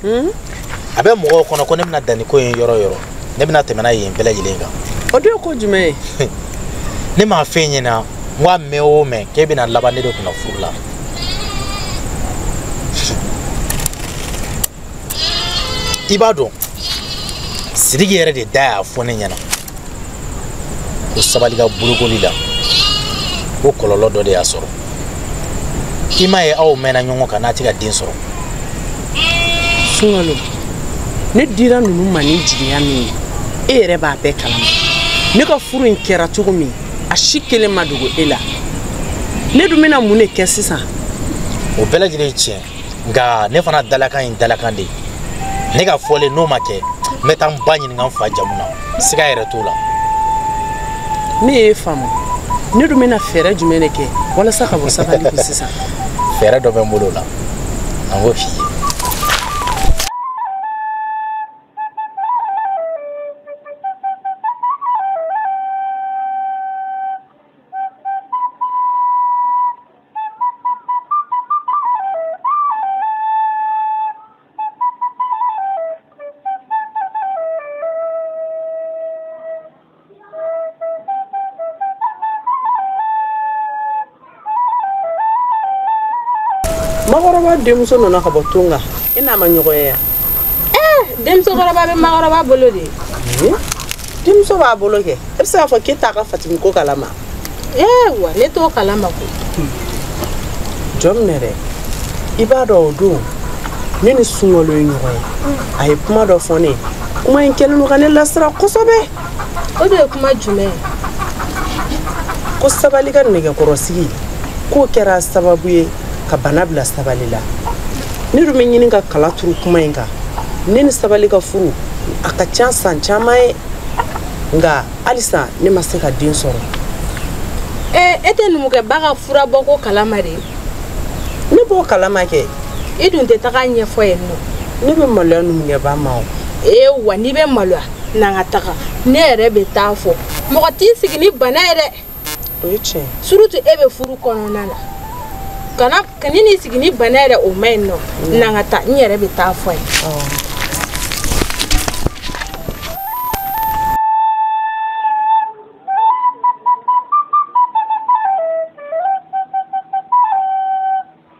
hmm? a bɛ mɔgɔw kɔnɔ ko ne bɛna dan ni ko in ye yɔrɔ o yɔrɔ ne bɛna tɛmɛ n'a ye yen bɛɛ lajɛlen kan o dun ye ko jumɛn ye ne m'a f'e ɲɛna n ko a mɛn o mɛn k'e bɛna laban ne de kunna furu la i b'a dɔn sidiki yɛrɛ de da y'a fɔ ne ɲɛna ko sabali ka bolokoli la ko kɔlɔlɔ dɔ de y'a sɔrɔ i m'a ye aw mɛnna ɲɔgɔn kan n'a tɛ ka den sɔrɔ sunkalo ne dira ninnu ma ni jigiya min ye e yɛrɛ b'a bɛɛ kalama ne ka furu in kɛra cogo min a si kelen ma dogo e la ne dun bɛna mun de kɛ sisan o bɛɛ lajɛlen ye tiɲɛ nka ne fana dalakan in dalakan de ne ka fɔlen n'o ma kɛ n bɛ taa n ba ɲininka n fa jamu na siga yɛrɛ t'o la ne y'e faamu ne dun bɛna fɛɛrɛ jumɛn de kɛ walasa ka bɔ sabali kun sisan fɛɛrɛ dɔ bɛ n bolo o la an b'o f'i ye makɔrɔba denmuso nana ka bɔ tunga i n'a ma ɲɔgɔn ye yan eh, denmusokɔrɔba bɛ makɔrɔba bolo de denmuso b'a bolo kɛ e bɛ se k'a fɔ k'e t'a ka fatimu ko kalama wa ne t'o kalama ko jɔn minɛ dɛ i b'a dɔn o don ne ni sunkalo ye ɲɔgɔn ye a ye kuma dɔ fɔ ne kuma in kɛlen don ka ne lasira kosɛbɛ o de ye kuma jumɛn ye ko sabali ka nɛgɛkɔrɔsigi k'o kɛra sababu ye ka bana bila sabali la ne dun bɛ ɲini ka kala turu kuma in kan ne ni sabali ka furu a ka ca ni san caman ye nka halisa ne ma se ka den sɔrɔ ee e tɛ numukɛba ka fura bɔ ko kalama dɛ ne b'o kalama kɛ i dun tɛ taga a ɲɛf'o ye nɔ ne bɛ maloya numukɛba ma o ee wa n'i bɛ maloya n'an ka taga ne yɛrɛ bɛ taa a fɔ mɔgɔ t'i sigi ni bana ye dɛ surutu e bɛ furu kɔnɔna na a man kan e n'i sigi ni bana ye dɛ o man ɲi nɔ mm. n'an ka taa n yɛrɛ bɛ taa a fɔ a ye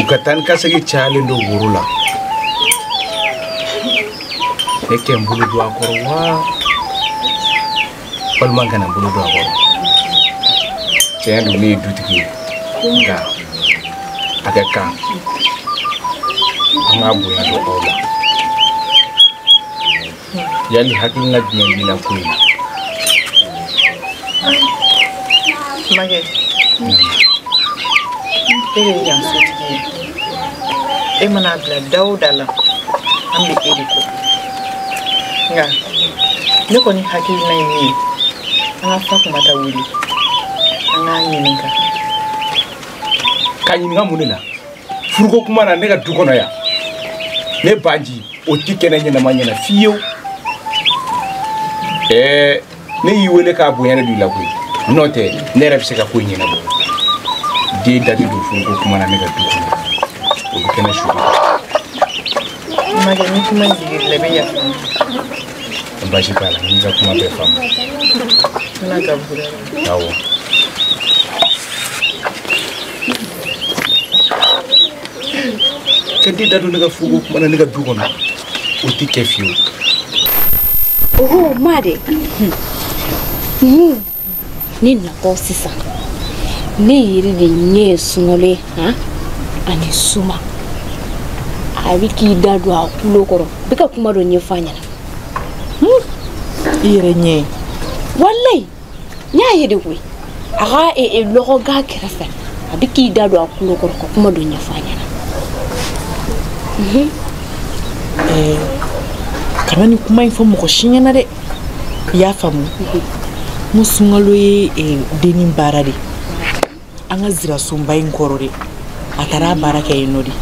u ka taa ni ka segin cayalen don woro la ne ka n bolo don a kɔrɔ wa walima n kana n bolo don a kɔrɔ tiɲɛ don ne ye dutigi ye nka a ka kan an k'a bonya don aw la yali hakilina jumɛn b'i la ko in na makɛ e de ye yan sotigi ye e mana bila da o da la an bɛ e de kɔ nka ne kɔni hakilina ye min ye an ka fatumata wele an k'a ɲininka k'a ɲininka mun de la furuko kuma na ne ka du kɔnɔ yan ne baji o tɛ kɛ ne ɲɛnama ɲɛna fiyewu ɛɛ ne y'i wele k'a bonya de don i la koyi n'o tɛ ne yɛrɛ bɛ se ka ko ɲɛnabɔ den da tɛ don furuko kuma na ne ka du kɔnɔ o bɛ kɛ ne su makɛ ni kuma digir'i la i bɛ yafa basi t'a la n y'i ka kuma bɛɛ faamu ala ka bura awɔ ka den da don ne ka furuko kuma na ne ka du kɔnɔ o tɛ kɛ fiyewu oho ma de ni ne natɔ sisan ne yɛrɛ de ɲɛ ye sunkalo ye han ani suma a bɛ k'i da don a kulo kɔrɔ bɛ ka kuma dɔ ɲɛfɔ a ɲɛna i yɛrɛ ɲɛ ye walayi n y'a ye de koyi a ka e, e, lɔgɔga kɛrɛfɛ a bɛ k'i da don a kulo kɔrɔ ka kuma dɔ ɲɛfɔ a ɲɛna mhm. eh, kana nin kuma in fɔ mɔgɔ si ɲɛna dɛ i y'a faamu mhm. n ko sunkalo ye eh, denni baara de an ka zirasunba in kɔrɔ de a taara a baara kɛ yen n'o tɛ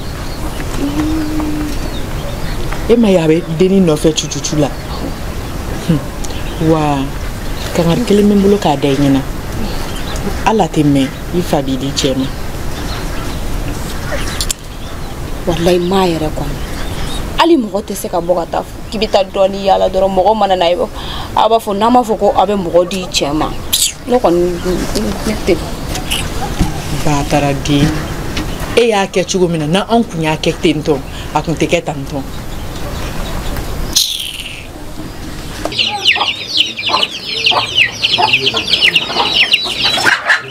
e m'a ye a bɛ denni nɔfɛ cucucu la wa kangari kelen bɛ n bolo k'a da i ɲɛna hali a tɛ mɛn i fa b'i di cɛ ma walayi maa yɛrɛ kɔni hali mɔgɔ tɛ se ka bɔ ka taa k'i bɛ taa dɔɔni yaala dɔrɔn mɔgɔ mana na a b'a fɔ n'an b'a fɔ ko aw bɛ mɔgɔ di cɛ ma ne kɔni ne tɛ bataraden e y'a kɛ cogo min na n'an kun y'a kɛ ten tɔ a kun tɛ kɛ tan tɔ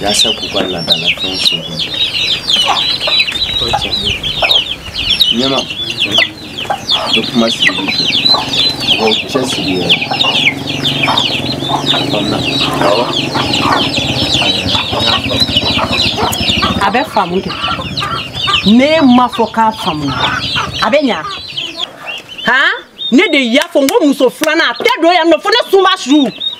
yasa k'u ka laadalafɛnw sogo ɲɛma bɛ kuma sigi mɔgɔw cɛ sigi yɛrɛ faamuya awɔ a bɛ faamu kɛ ne ma fɔ k'a faamu a bɛ ɲa han ne de y'a fɔ n ko muso filanan a tɛ don yan nɔ fo ne suma su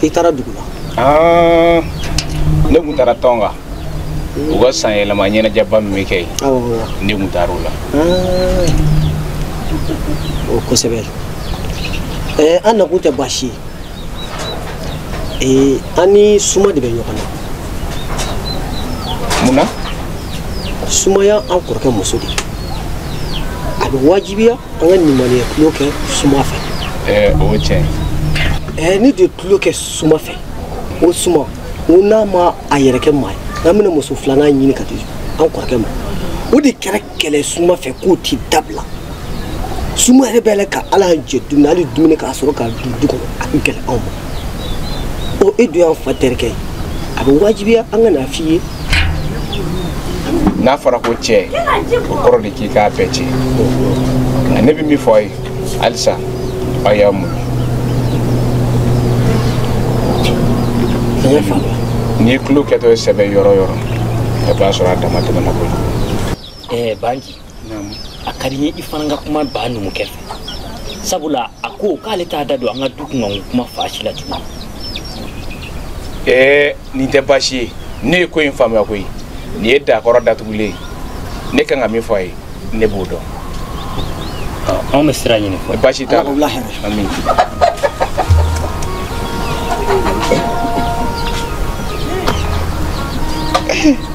k'i taara dugu la ah, ne tun taara tɔn na u ka san yɛlɛma ɲɛnajɛba min bɛ kɛ yen ne tun taara o la ah. o kosɛbɛ eh, an nakun tɛ baasi ye eh, an ni suma de bɛ ɲɔgɔn na mun na suma ye an kɔrɔkɛ muso de a bɛ wajibiya an ka nimɔgɔniya tulon kɛ suma fɛ ɛɛ o tiɲɛ ɛɛ ne de tulon kɛ suma fɛ o suma n ko n'a ma a yɛrɛ kɛ maa ye n'an bɛna muso filanan ɲini ka di an kɔrɔkɛ ma o de kɛra kɛlɛ suma fɛ k'o ti dabila suma yɛrɛ bɛ yɛlɛ ka ala jɛ dumuni hali dumuni k'a sɔrɔ k'a dun du kɔnɔ a bɛ gɛlɛya anw ma o e dun y'an fa terikɛ ye a bɛ wajibiya an ka n'a f'i ye n'a fɔra ko cɛ o kɔrɔ de k'i k'a bɛɛ cɛ nka ne bɛ min fɔ a ye halisa aw y'a muɲu n'i ye tulon kɛtɔ ye sɛbɛ yɔrɔ yɔrɔ i b'a sɔrɔ a damatɛmɛna kojugu ɛɛ banji a ka di n ye i fana ka kuma ba numukɛ fɛ sabula a ko k'ale t'a da don an ka du kunkanko kuma fan si la tuguni ɛɛ nin tɛ baasi ye ne ye ko in faamuya koyi nin ye dakɔrɔ datugulen ye ne kan ka min fɔ a ye ne b'o dɔn anw bɛ sira ɲini fɔ baasi t'a la ami Hey.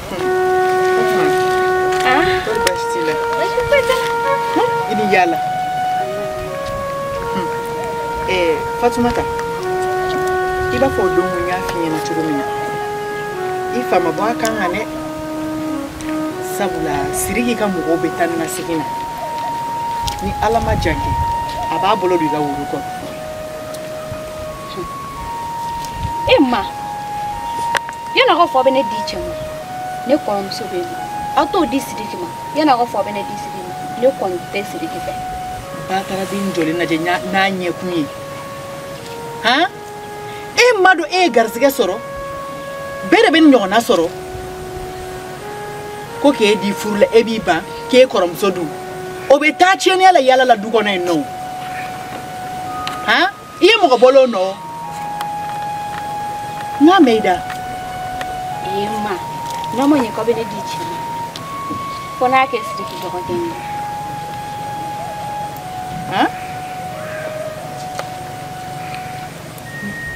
fatumata i b'a fɔ o don n y'a f'i ɲɛ na cogo min na i fa ma bɔ a kan kan dɛ sabula siriki ka mɔgɔw bɛ taa ni ka segin na ni ala ma jan kɛ a b'a bolo don i ka woro kɔnɔ e ma yanni aw k'a fɔ aw bɛ ne di cɛ ma ne kɔrɔmuso bɛ yen aw t'o di sidiki ma yanni aw k'a fɔ aw bɛ ne di sidiki ma ne kɔni tɛ sidiki fɛ. bataraden jɔlen lajɛ n'a ɲɛkun ye han e m'a dɔn e ye garisɛgɛ sɔrɔ bɛɛ de bɛ nin ɲɔgɔnna sɔrɔ ko k'e di furu la e b'i ban k'e kɔrɔmuso dun o bɛ taa tiɲɛniya la yala la dugu kɔnɔ yen nɔ han. i ye mɔgɔ bolo nɔ n ka mɛ i da ee ma n'o ma ɲɛ k'aw bɛ ne di cɛ ma fo n'a kɛ siriki dɔgɔden ye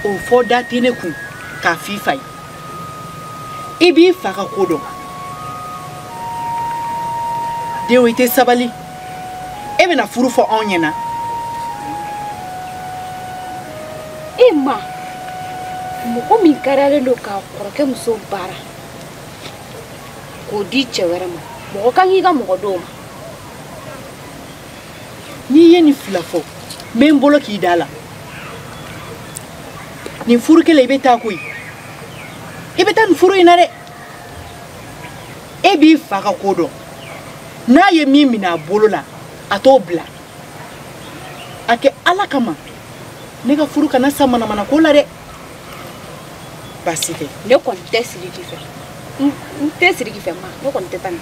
o fɔ da tɛ ne kun k'a f'i fa ye i b'i fa ka ko dɔn dɛ i tɛ sabali e bɛna furu fɔ anw ɲɛna e ma mɔgɔ min kariyalen don ka kɔrɔkɛ muso baara k'o di cɛ wɛrɛ ma mɔgɔ kan k'i ka mɔgɔ dɔw ma n'i ye nin fila fɔ n bɛ n bolo k'i da la nin furu kelen i bɛ taa koyi i bɛ taa nin furu in na dɛ e b'i fa ka ko dɔn n'a ye min minɛ a bolo la a t'o bila a kɛ ala kama ne ka furu kana sa manamana ko la dɛ baasi tɛ ne kɔni tɛ siriki fɛ n tɛ siriki fɛ ma ne kɔni tɛ taa nin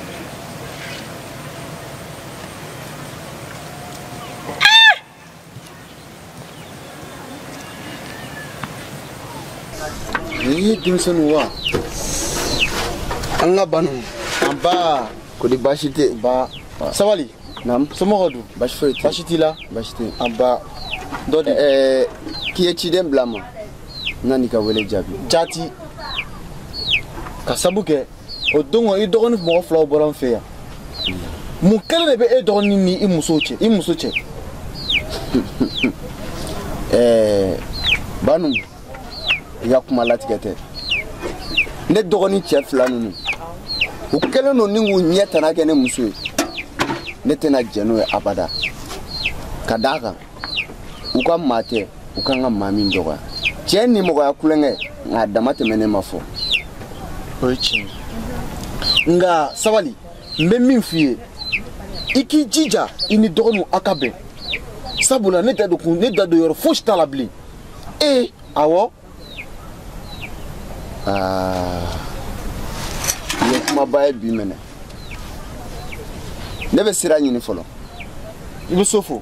nin ye denmisɛnninw wa an ka banu an ba ko di baasi tɛ ba sabali naam somɔgɔw dun baasi foyi tɛ baasi t'i la baasi tɛ an ba dɔ de ɛɛ k'i ye ciden bila n ma n nan'i ka wele jaabi jaati k'a sabu kɛ o don kɔni i dɔgɔnin mɔgɔ filaw bɔra n fɛ yan mun kɛlen de bɛ e dɔgɔnin ni i muso cɛ i muso cɛ ɛɛ banu i ka kuma latigɛ tɛ ne dɔgɔnin cɛ fila ninnu u kɛlen don ni k'u ɲɛ tana kɛ ne muso ye ne tɛna jɛn n'o ye abada ka d'a kan u ka maa tɛ u kan ka maa min dɔgɔya cɛ ni mɔgɔya kulonkɛ nka a dama tɛmɛ ne ma fɔ o ye tiɲɛ nka sabali n bɛ min f'i ye i k'i jija i n'i dɔgɔninw aw ka bɛn sabula ne da don kun ne da don yɔrɔ fosi t'a la bilen ee awɔ ah, i ye kumaba ye bi minɛ ne bɛ sira ɲini fɔlɔ i bɛ so fo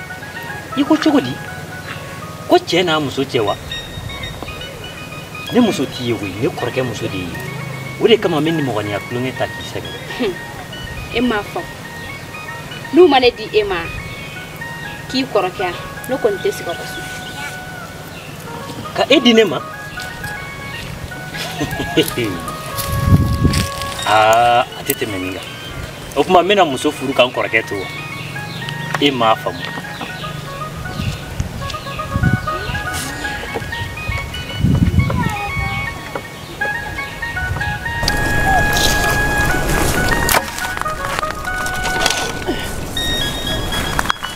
i ko cogo di ko cɛ n'a muso cɛ wa ne muso t'i ye koyi ne kɔrɔkɛ muso de ye o de kama n bɛ nimɔgɔniya tulonkɛ ta k'i sɛgɛn e m'a fɔ n'u ma ne di e ma k'i kɔrɔkɛ yan ne kɔni tɛ se ka sɔn ka e di ne ma aa a tɛ tɛmɛ nin kan o tuma n bɛna muso furu ka n kɔrɔkɛ to wa e m'a faamu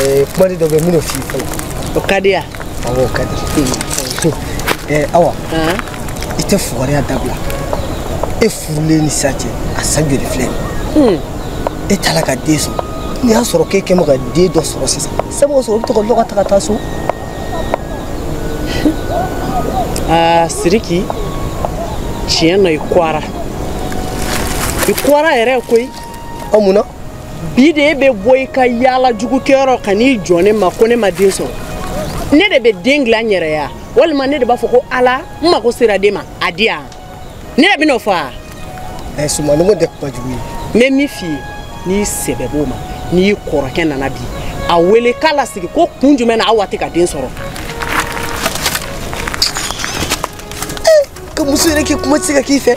ɛɛ kumaden dɔ bɛ yen minnu f'i fɔlɔ. o ka di yan. awɔ o ka di. ɛɛ awa. i tɛ fugariya dabila e furulen ni sisan cɛ a san joli filɛ nin e t'a la ka den sɔrɔ n'i y'a sɔrɔ k'e kɛ mɛ ka den dɔ sɔrɔ sisan sabu o sɔrɔ o bɛ to ka lɔgɔ ta ka taa so. aa siriki tiɲɛ na i goyara i goyara yɛrɛ koyi. a mun na. bi de e bɛ bɔ i ka yaala jugu kɛyɔrɔ ka n'i jɔ ne ma ko ne ma den sɔrɔ ne de bɛ den dilan n yɛrɛ ye wa walima ne de b'a fɔ ko ala n mago sera den ma a di yan ne de bɛn'o fɔ a. ɛ sumanɔgɔ tɛ kuma jugu ye. n bɛ min f'i ye n'i sɛbɛ b'o ma n'i kɔrɔkɛ nana bi a wele k'a lasigi ko kun jumɛn na aw tɛ ka den sɔrɔ. ka muso yɛrɛ kɛ kuma tɛ se ka k'i fɛ.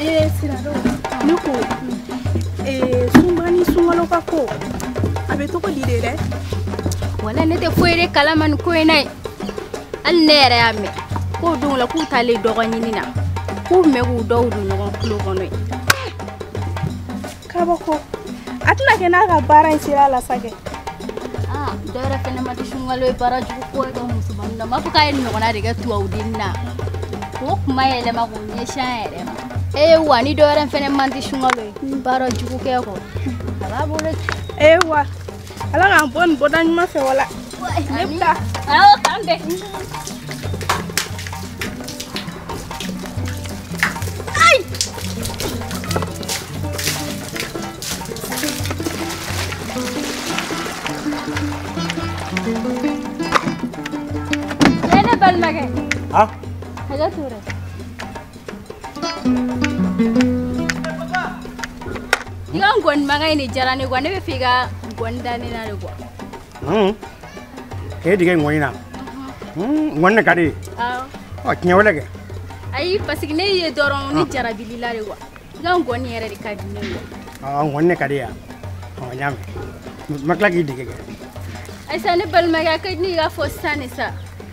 ee siradon ne ko ee sunba ni sunkalo ka ko a bɛ cogo di de dɛ wala ne tɛ foyi de kalama nin ko in na ye hali ne yɛrɛ y'a mɛn ko don dɔ la k'u taalen dɔgɔ ɲini na k'u bɛ k'u daw don ɲɔgɔn tulo kɔnɔ yen K'a fɔ ko a tɛna kɛ n'a ka baara in sera la sa kɛ. Ah, dɔ wɛrɛ fɛnɛ man di sunkalo ye baara jugu kɔ ye ka musomanin na. N b'a fɔ k'a y'o ɲɔgɔnna de kɛ tubabudennin na. K'o kuma yɛlɛma k'o ɲɛsin an yɛrɛ ma. Ee wa ni dɔ wɛrɛ fɛnɛ man di sunkalo ye baara jugu kɛ kɔ. A b'a bolo ci. Ee wa. ala k'an bɔ nin bɔda ɲuman fɛ wala ne bɛ taa awɔ k'an bɛn Balimakɛ. Ha? Hakɛ t'o la. i ka nkɔni mankan in de diyara ne kuwa ne b'a fɛ i ka nkɔni da ne na de kuwa Hmm. k'e dege ŋɔni na Hmm, ŋɔni de ka d'i ye awɔ ɔ tiɲɛ wɛrɛ kɛ ayi paseke ne y'i ye dɔrɔn ne jarabil'i la de kuwa i ka nkɔni yɛrɛ de ka di ne ye ɔ ŋɔni de ka di yan ɔ n y'a mɛn n ma tila k'i dege kɛ ayi sa ne balimakɛ a ka di ne ye i k'a fɔ sisan de sa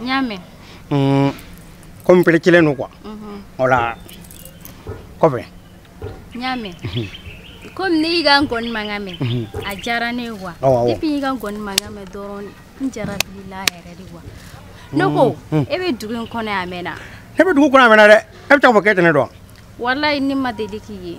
n y'a mɛn mm, komi pereselen don kuwa mhm. o la kɔfɛ n y'a mɛn komi ne y'i ka nkɔni mankan mɛn mhm. a diyara ne ye wa depuis y'i ka nkɔni mankan mɛn dɔrɔn n jarabil'i la yɛrɛ de wa ne ko mm, mm. e bɛ dugu in kɔnɔ a mɛnna ne bɛ dugu kɔnɔ a mɛnna dɛ e bɛ taa fɔ k'e tɛ ne dɔn walayi ne ma deli k'i ye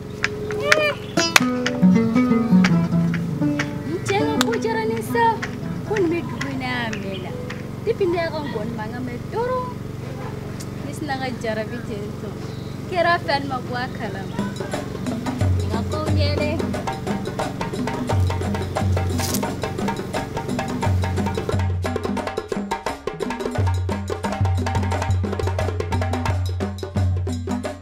n cɛ ka ko diyara ne sa ko nin bɛ dugu in na a mɛnna depuis ne y'a ka nkɔni mankan mɛn dɔrɔn ne sinna ka jarabi ten tɔ kɛra fɛ ne ma bɔ a kalama nin ka kow ɲɛ dɛ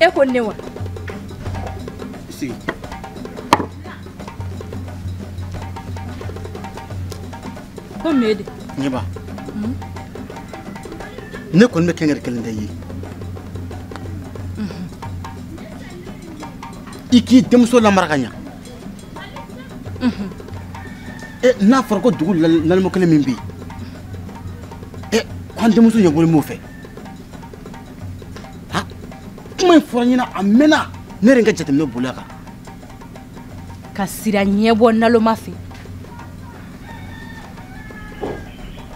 e ko ne wa sigi ko mun de ɲɛba hmm? ne kɔni bɛ kankari kelen da i ye hmm. i k'i denmuso lamara ka ɲa n'a fɔra ko dugu naloma kelen min bɛ yen an denmuso ɲɛbɔlen b'o fɛ a kuma in fɔra n ɲɛ na a mɛnna ne yɛrɛ ka jateminɛ boli a kan ka sira ɲɛbɔ naloma fɛ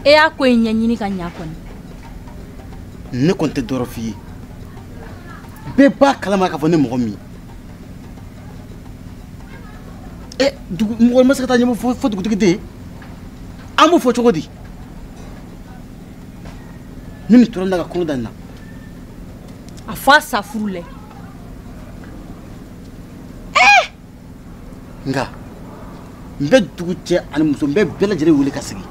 e y'a ko in ɲɛɲini ka ɲa kɔni ne kɔni tɛ dɔ wɛrɛ f'i ye bɛɛ b'a kalama k'a fɔ ne mɔgɔ min ɛ dugu mɔgɔ ma se ka taa ɲɛmɔ fo fo dugutigi den an b'o fɔ cogo di ni nin tora n da ka kɔnɔ da nin na a fɔ a sa furu lɛ nka n bɛ dugu cɛ ani muso n bɛ bɛɛ lajɛlen wele ka sigi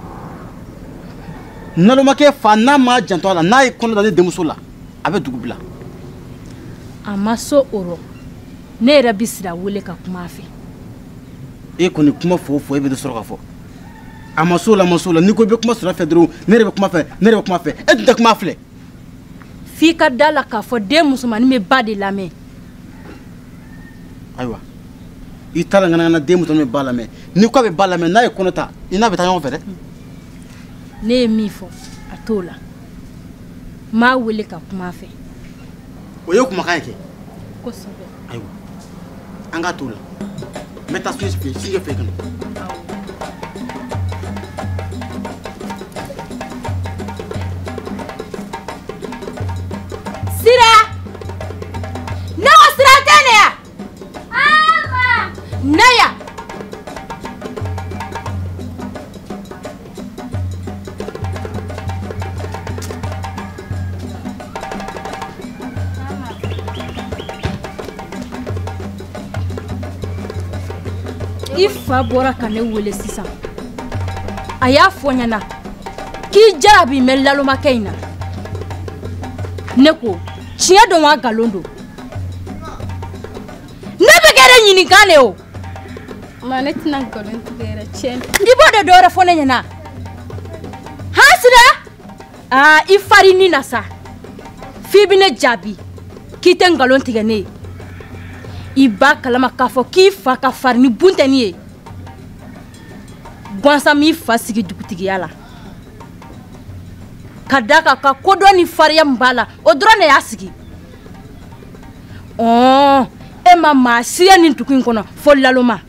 nalomakɛ fa n'a ma janto a la n'a ye kɔnɔ da ne denmuso la a bɛ dugu bila a ma so o rɔ ne yɛrɛ bɛ sira wele ka kuma a fɛ e kɔni kuma fɔ o fɔ e bɛ dɔ sɔrɔ ka fɔ a ma so la a ma so la n'i ko i bɛ kuma sira fɛ dɔrɔn ne yɛrɛ bɛ kuma fɛ ne yɛrɛ bɛ kuma fɛ e tun tɛ kuma filɛ f'i ka da la k'a fɔ den musomannin bɛ ba de lamɛn ayiwa i ta la ŋanaŋana den musomannin bɛ ba lamɛn ni ko a bɛ ba lamɛn n'a ye kɔnɔ ta i n'a bɛ taa ɲɔgɔn fɛ dɛ ne ye min fɔ a t'o la m'a wele ka kuma a fɛ o ye kumakan ye kɛ kosɛbɛ ayiwa an ka t'o la n bɛ taa so fɛ sijɛ fɛ ka na sira Naya i fa bɔra ka ne wele sisan a y'a fɔ n ɲɛna k'i jarabilen lalomakɛ in na ne ko tiɲɛ don wa nkalon don n'e bɛ ka ne ɲininka de o ma ne tɛna nkalon tigɛ yɛrɛ tiɲɛ i b'o de dɔ wɛrɛ fɔ ne ɲɛna han sira aa i fari ni na sa f'i bɛ ne jaabi k'i tɛ nkalon tigɛ ne ye i b'a kalama k'a fɔ k'i fa ka farin ni bunteni ye gansan m'i fa sigi dugutigiya la ka d'a kan a ka kodɔn ni fariya min b'a la o dɔrɔn de y'a sigi ɔɔ e ma maa si ye nin dugu in kɔnɔ fo laloma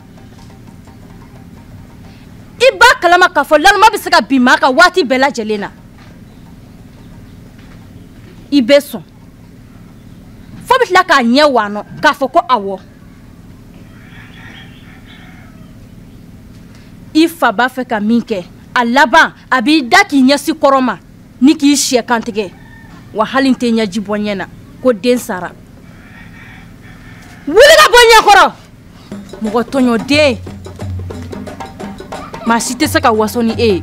i b'a kalama k'a fɔ laloma bɛ se ka bin maa kan waati bɛɛ lajɛlen na i bɛ sɔn f'i bɛ tila k'a ɲɛ wanɔ k'a fɔ ko awɔ i fa b'a fɛ ka min kɛ a laban a b'i da k'i ɲɛsin kɔrɔn ma ni k'i sɛ kantigɛ wa hali n tɛ ɲɛji bɔ n ɲɛ na ko n den sara wuli ka bɔ n ɲɛ kɔrɔ mɔgɔ tɔɲɔden maa si tɛ se ka waso ni e ye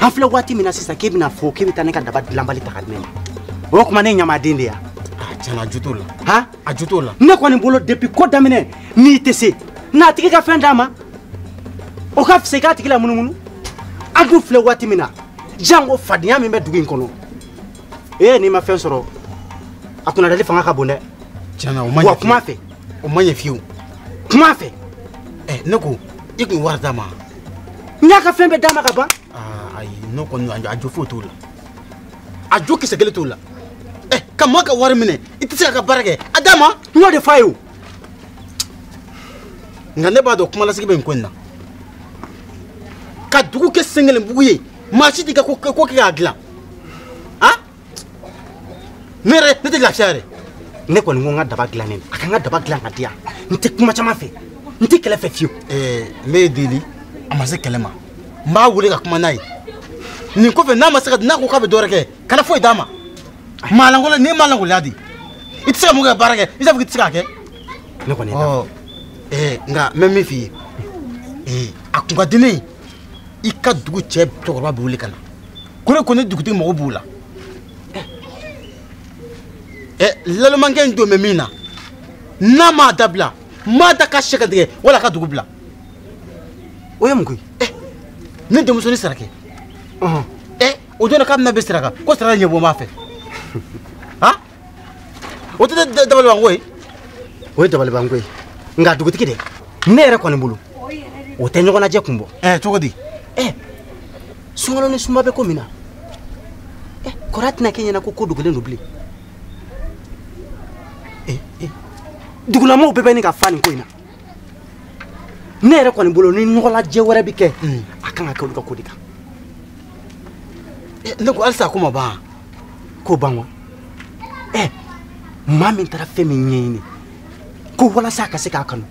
an filɛ waati min na sisan k'e bɛna fɔ k'e bɛ taa ne ka daba dilanbali ta ka di ne ma o ye kuma ne ye ɲamaden de ye tiɲɛna a jo t'o la han a jo t'o la ne kɔni bolo depuis ko daminɛ n'i tɛ se n'a tigi ka fɛn d'a ma o ka fisa i k'a tigi lamunumunu an dun filɛ waati min na jango fadenya min bɛ dugu in kɔnɔ ee n'i ma fɛn sɔrɔ a kunnadali fanga ka bon dɛ tiɲɛna o ma ɲɛ wa kuma fɛ o ma ɲɛ fiyewu kuma fɛ ɛ ne ko i k'o wari d'a ma n y'a ka fɛn bɛɛ d'a ma ka ban ah, ayi n'o kɔni a jo foyi t'o la a jo kisɛ kelen t'o la ɛ eh, ka mɔɔ ka wari minɛ i tɛ se k'a ka baara kɛ a d'a ma n y'o de fɔ a ye o nka ne b'a dɔn kumalasigi bɛ nin ko in na ka dugu kɛ sen kelen bugu ye maa si t'i ka ko kɛ k'a dilan ne yɛrɛ ne tɛ lafiya yɛrɛ ne kɔni ko n ka daba dilannen a ka n ka daba dilan ka di yan n tɛ kuma caman fɛ n tɛ kɛlɛ fɛ fiyewu. ɛɛ n b'i deli a ma se kɛlɛ ma n b'a wele ka kuma n'a ye nin kɔfɛ n'a ma se ka n'a ko k'a bɛ dɔwɛrɛ kɛ kana foyi d'a ma maalankolon n'i ye maalankolon di i tɛ se ka mun kɛ baara kɛ i t'a fɔ k'i tɛ se k'a kɛ. ne kɔni ye d'a ɛɛ nka n bɛ min f'i ye ee a kun ka di ne ye i ka dugu cɛ cɛkɔrɔba bɛɛ wele ka na. ko ne ko ne dugutigi mago b'u la ɛ eh, lalomankɛ in dun bɛ min na n'a m'a dabila m'a da ka sɛgɛ tigɛ wala ka dugu bila o ye mun ko ye ɛ eh, ne denmuso ni sarakɛ ɛ eh, o donna k'a bɛna bɛ saraka ko saraka ɲɛbɔ n b'a fɛ o tɛ dabaliban ko ye o ye dabaliban ko ye nka dugutigi dɛ ne yɛrɛ kɔni bolo o tɛ ɲɔgɔnnajɛ kun bɔ ɛɛ cogo di ɛɛ sungalo ni sunba bɛ ko min na ɛɛ kɔrɔ a tɛna kɛ ɲɛna ko ko dogolen don bilen ee ee dugulamɔgɔw bɛɛ bɛ ɲini ka fa nin ko in na ne yɛrɛ kɔni bolo ni ɲɔgɔnlajɛ wɛrɛ bɛ kɛ a kan ka kɛ olu ka ko de kan ne ko halisa ko ma ban k'o ban wa ɛ eh, maa min taara fɛn min ɲɛɲini ko walasa a ka se k'a kanu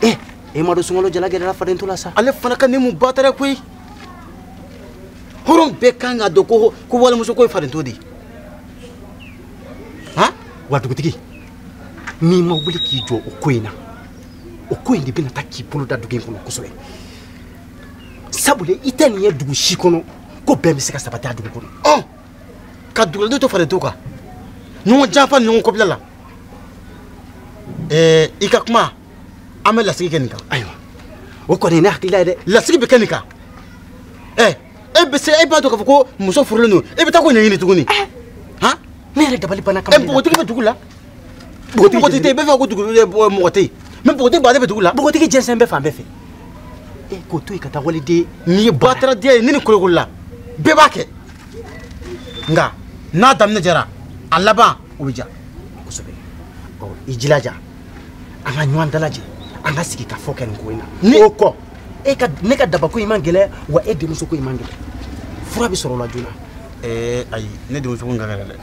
ɛ eh, e m'a dɔn sungalo jala gɛrɛla fadento la sa ale fana ka ni mun ba tɛrɛ koyi hɔrɔn bɛɛ kan k'a dɔn ko ko walimuso ko ye fadento de ye han wa dugutigi n'i ma wuli k'i jɔ o ko in na o ko in de bɛna taa k'i bolo da dugu in kɔnɔ kosɛbɛ sabula i tɛ nin ye dugu si kɔnɔ ko bɛn bɛ se ka sabati a dugu kɔnɔ ɔ ka duguladenw to falen to kan ɲɔgɔn janfa ni ɲɔgɔn kɔbila la ɛɛ i ka kuma an bɛ lasigi kɛ nin kan ayiwa o kɔni ye ne hakilila ye dɛ lasigi bɛ kɛ nin kan ɛ e bɛ se e b'a dɔn k'a fɔ ko muso furulen don e bɛ taa k'o ɲɛɲini tuguni han ne yɛrɛ dabali banna kamalen na ɛ npogotigi bɛ dugu la bogotigi tɛ yen bɛɛ fɛ ko dugu mɔgɔ tɛ yen mɛ bogotigi baden bɛ dugu la bogotigi jɛnsɛnnen bɛ fan bɛɛ fɛ e k'o to yen ka taa waliden n'i ye bataraden ye ne ni kolokolo la bɛɛ b'a kɛ nka n'a daminɛ jɛra a laban o bɛ ja kosɛbɛ ɔ i jija an ka ɲɔgɔn dalajɛ an ka sigi ka fɔ kɛ nin ko in na ni o kɔ e ka ne ka dabako in man gɛlɛ wa e denmuso ko in man gɛlɛ fura bɛ sɔrɔ o la joona ɛɛ ayi ne denmuso ko in ka gɛlɛ dɛ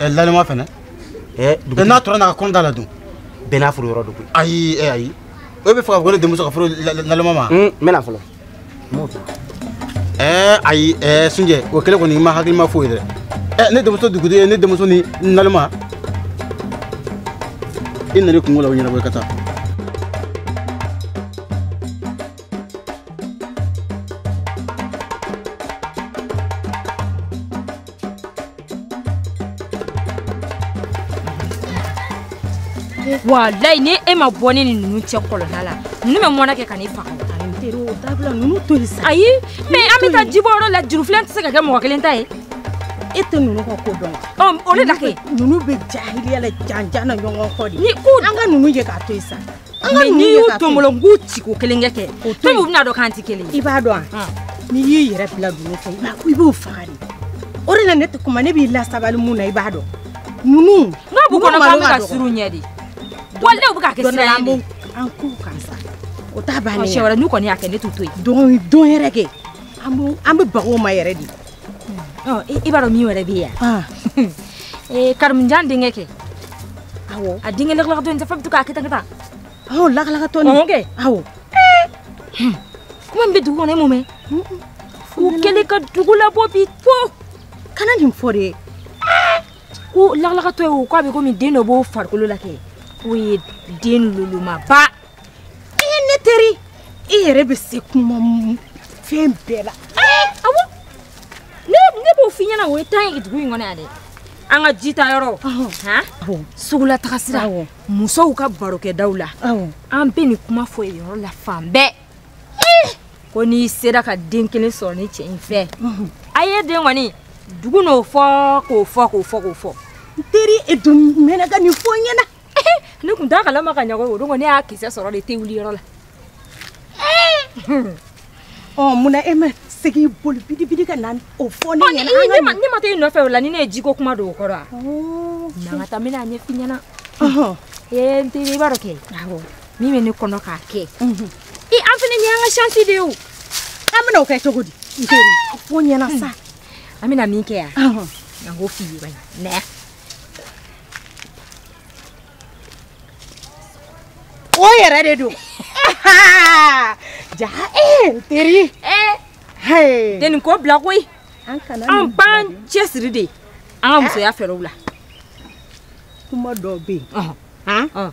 ɛ naloma fɛnɛ eh, dugutigi n'a tora n'a ka kɔnɔ da la dun bɛɛ n'a furu yɔrɔ don koyi ayi eh, ayi aw b'a fɛ k'a fɔ ko ne denmuso ka furu naloma ma n bɛna fɔlɔ n b'o kɛ ɛɛ ayi ɛɛ sunjɛ o kɛlen kɔni i ma hakilima fɔ dɛrɛ ɛ ne denmuso dugutigi ye ne denmuso ni naloma i nana i kunko la o ɲɛnabɔ i ka taa walayi ni e ma bɔ ne ni ninnu cɛ kɔlɔnda la ninnu bɛ mɔnɛ kɛ ka ne faga ayi mɛ an bɛ taa jibɔ yɔrɔ la jurufilen tɛ se ka kɛ mɔgɔ kelen ta ye e tɛ ninnu ka ko dɔn wa o de la kɛ ninnu bɛ jahiliya la janjan na ɲɔgɔn kɔ de n ko an ka ninnu ye k'a to yen sa mɛ n'i y'u to n bolo n k'u ci ko kelen kɛ kɛ fɛn u bɛn'a dɔn k'an tɛ kelen i b'a dɔn a n'i y'i yɛrɛ bila ninnu fɛ i b'u faga de o de la ne tɛ kuma ne b'i lasabali mun na i b'a dɔn ninnu n'a b'u kɔnɔ k'an bɛ ka siran u ɲɛ de wali ne bɛ ka kɛ sira ye de an k'u kan sa o t'a bannen ye siɲɛ wɛrɛ n'u kɔni y'a kɛ ne t'u to yen don yɛrɛ kɛ an bɛ baga u ma yɛrɛ de i b'a dɔn min wɛrɛ bɛ yan karimujan denkɛ kɛ awɔ a denkɛ lakalakatɔ in sa fa bɛ to k'a kɛta kɛta awɔ lakalakatɔ nin awɔ kɛ awɔ kuma min bɛ dugu kɔnɔ e m'o mɛn o kɛlen ka dugu labɔ bi fo kana nin fɔ dɛ ko lakalakatɔ ye o k'a bɛ komi den dɔ b'o farikolo la kɛ k'o ye den lolomaba i ye ne teri i yɛrɛ bɛ se kuma fɛn bɛɛ la awɔ ne b'o f'i ɲɛna o ye tan ye dugu in kɔnɔ yan dɛ an ka ji ta yɔrɔ sugu la taga sira musow ka barokɛdaw la an bɛ nin kuma fɔ yen yɔrɔ la fan bɛɛ ko n'i sera ka den kelen sɔrɔ nin cɛ in fɛ a ye den kɔni dugu n'o fɔ k'o fɔ k'o fɔ k'o fɔ n teri e dun mɛnna ka nin fɔ n ɲɛna ne tun t'a kalama ka ɲɛ o don kɔni ne y'a kisɛ sɔrɔ de te wuli yɔrɔ la ɔ munna e ma se k'i boli bidibidi ka na o fɔ ne ɲɛna nka ne ma taa i nɔfɛ o la ni ne ye jiko kuma don o kɔrɔ a na an ka taa n bɛna a ɲɛf'i ɲɛna ee n teri i b'a dɔn kɛ min bɛ ne kɔnɔ k'a kɛ i an fana ɲɛ an ka chansi de ye o an bɛna o kɛ cogo di n teri fɔ n ɲɛna sa an bɛna min kɛ yan an k'o f'i ye bani na yan o yɛrɛ de don ja ee n teri ee tɛ nin ko bila koyi an b'an cɛsiri de an ka musoya fɛɛrɛw la kuma dɔ bɛ yen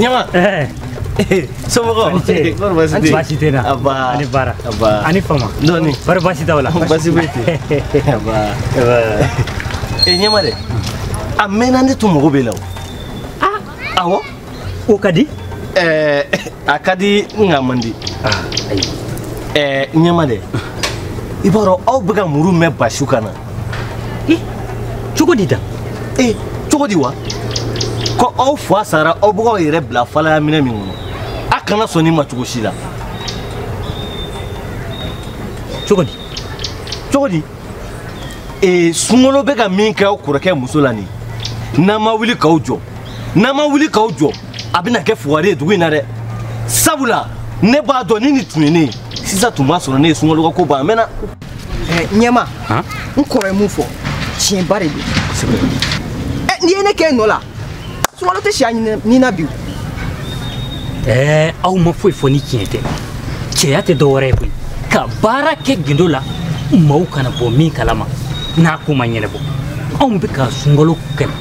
ɲama somɔgɔ kɔrɔ basi tɛ basi tɛ n na aba a ni baara aba a ni fama dɔɔni bari basi t'aw la basi bɛ ten aba aba e ɲɛma dɛ a mɛnna ne tun mago b'e la o awɔ o ka di eh, a ka di nka man di eh, ɲɛma dɛ i b'a dɔn aw bɛ ka muru min basi aw kan na cogo di da ee cogo di wa ko aw fa sara aw bɛ k'aw yɛrɛ bila falaya minɛn min kɔnɔ a kana sɔn nin ma cogo si la cogo di cogo di ee sunkalo bɛ ka min kɛ aw kɔrɔkɛ muso la nin n'aw ma wuli k'aw jɔ n'aw ma wuli k'aw jɔ a bɛna kɛ fugari ye dugu in na dɛ sabula ne b'a dɔn ni nin tun ye ne ye sisan tun b'a sɔrɔ ne ye sunkalo ka ko ban a mɛnna. ɲɛma n kɔrɔ ye min fɔ tiɲɛba de don n'i ye ne kɛ n nɔ la sunkalo tɛ si a ni na bi ɛɛ aw ma foyi fɔ ni tiɲɛ tɛ cɛya tɛ dɔ wɛrɛ ye koyi ka baara kɛ gindo la maaw kana bɔ min kalama n'a ko ma ɲɛnɛbɔ anw bɛ ka sunkalo kɛlɛ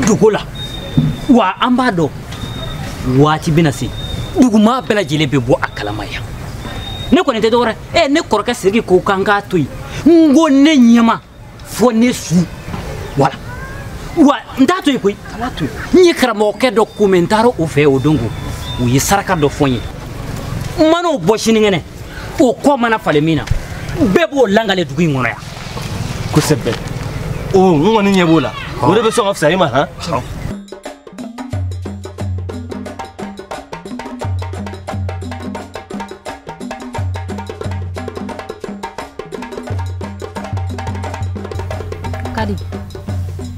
dogo la wa an b'a dɔn waati bɛna se dugumaa bɛɛ lajɛlen bɛ bɔ a kalama yan ne kɔni tɛ dɔwɛrɛ ɛ ne kɔrɔkɛ siriki ko k'an k'a to yen n ko ne ɲɛma fo ne su wala wa n t'a to yen koyi kana to yen n ye karamɔgɔkɛ dɔ ko mɛ n taara o fɛ o don ko o ye saraka dɔ fɔ n ye n mana o bɔ sinikɛnɛ o kɔ mana falen min na bɛɛ b'o langale dugu in kɔnɔ yan kosɛbɛ o n kɔni ɲɛ b'o la o de bɛ sɔn ka fisaya i ma han kadi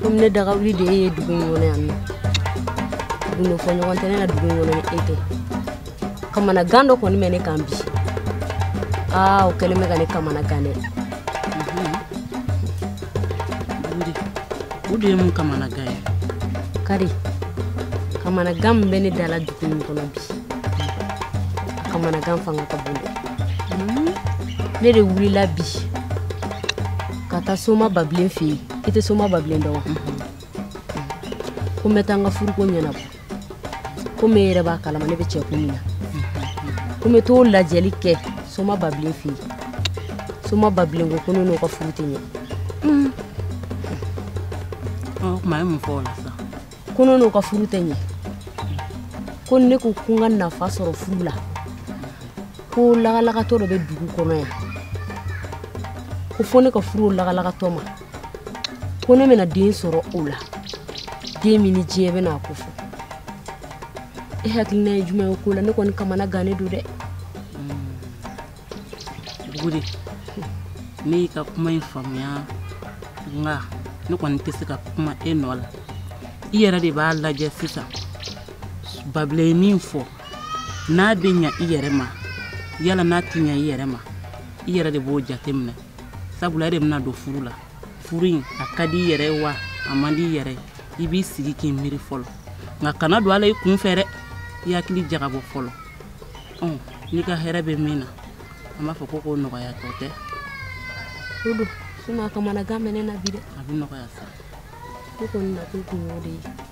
komi ne dagawuli de ye dugu in kɔnɔ yan ne gundo fɔ ɲɔgɔn tɛ ne na dugu in kɔnɔ ni e tɛ kamanagan dɔ kɔni bɛ ne kan bi aa o kɛlen bɛ ka ne kamanagan dɛ o de ye mun kamanagan ye kari kamanagan min bɛ ne da la dugu nin kɔnɔ bi a kamanagan fanga ka bon dɛ ne de wulila bi ka taa soma babilen fɛ yen i tɛ soma babilen dɔn wa ko n bɛ taa n ka furuko ɲɛnabɔ komi e yɛrɛ b'a kalama ne bɛ cɛko min na ko n bɛ t'o lajɛli kɛ soma babilen fɛ yen soma babilen ko ko ne n'o ka furu tɛ ɲɛ o tuma a ye mun fɔ o la sisan ko ne n'o ka furu tɛ ɲɛ ko ni ne ko ko n ka nafa sɔrɔ furu la ko lagalagatɔ dɔ bɛ dugu kɔnɔ yan ko fo ne ka furu o lagalagatɔ ma ko ne bɛna den sɔrɔ o la den min ni diɲɛ bɛna a kofɔ e hakilina ye jumɛn ye ko la ne kɔni kamanagannen don dɛ buguri ne y'i ka kuma in faamuya nka ne kɔni tɛ se ka kuma e nɔ la i yɛrɛ de b'a lajɛ sisan babilen ye min fɔ n'a bɛ ɲa i yɛrɛ ma yala n'a tɛ ɲa i yɛrɛ ma i yɛrɛ de b'o jateminɛ sabula e de bɛna don furu la furu in a ka di i yɛrɛ ye wa a man di i yɛrɛ i b'i sigi k'i miiri fɔlɔ nka kana don a la i kun fɛ dɛ i hakili jagabɔ fɔlɔ n'i ka hɛrɛ bɛ min na an b'a fɔ ko k'o nɔgɔya tɔ tɛ o don sinɔn a kamanagan bɛ ne na bi dɛ a bɛ nɔgɔya sa ne kɔni na kun y'o de ye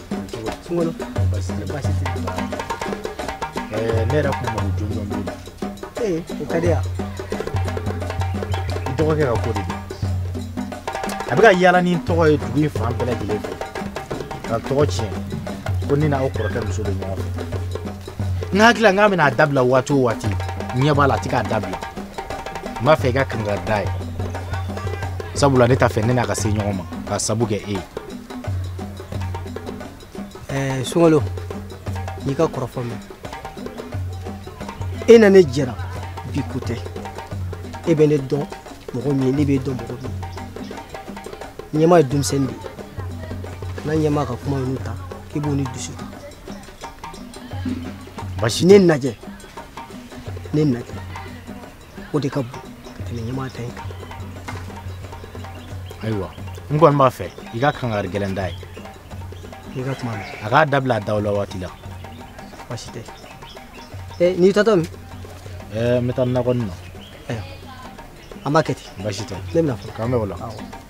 sunkalo basi tɛ basi tɛ ɛɛ ne yɛrɛ kun mago jɔnjɔn b'e la ee o ka di yan i dɔgɔkɛ ka ko de don a bɛ ka yaala ni n tɔgɔ ye dugu in fan bɛɛ lajɛlen fɛ ka n tɔgɔ tiɲɛ ko ne n'aw kɔrɔkɛ muso bɛ ɲɔgɔn fɛ n hakili la n k'a bɛna a dabila waati o waati n ɲɛ b'a la a tɛ k'a dabila n b'a fɛ i ka kangari d'a ye sabula ne t'a fɛ ne n'a ka se ɲɔgɔn ma k'a sabu kɛ e ye ɛɛ sunkalo n y'i ka kɔrɔfɔ mɛn e na ne jɛra bi ko tɛ e bɛ ne dɔn mɔgɔ min ye ne b'e dɔn mɔgɔ min ye ɲama ye denmisɛnnin de ye kana ɲama ka kuma ninnu ta k'i bɔnɛ dusu la basi ne n'e jɛ ne n'e jɛ o de ka bon ka tɛmɛ ɲama ta in kan ayiwa n kɔni b'a fɛ i ka kangari gɛlɛn d'a ye i ka kuma mɛn a k'a dabila a dabila waati la baasi tɛ ee n'i taatɔ min ɛɛ n bɛ taa nakɔnin na an b'a kɛ ten baasi tɛ ne bɛna fɔ k'an bɛn o la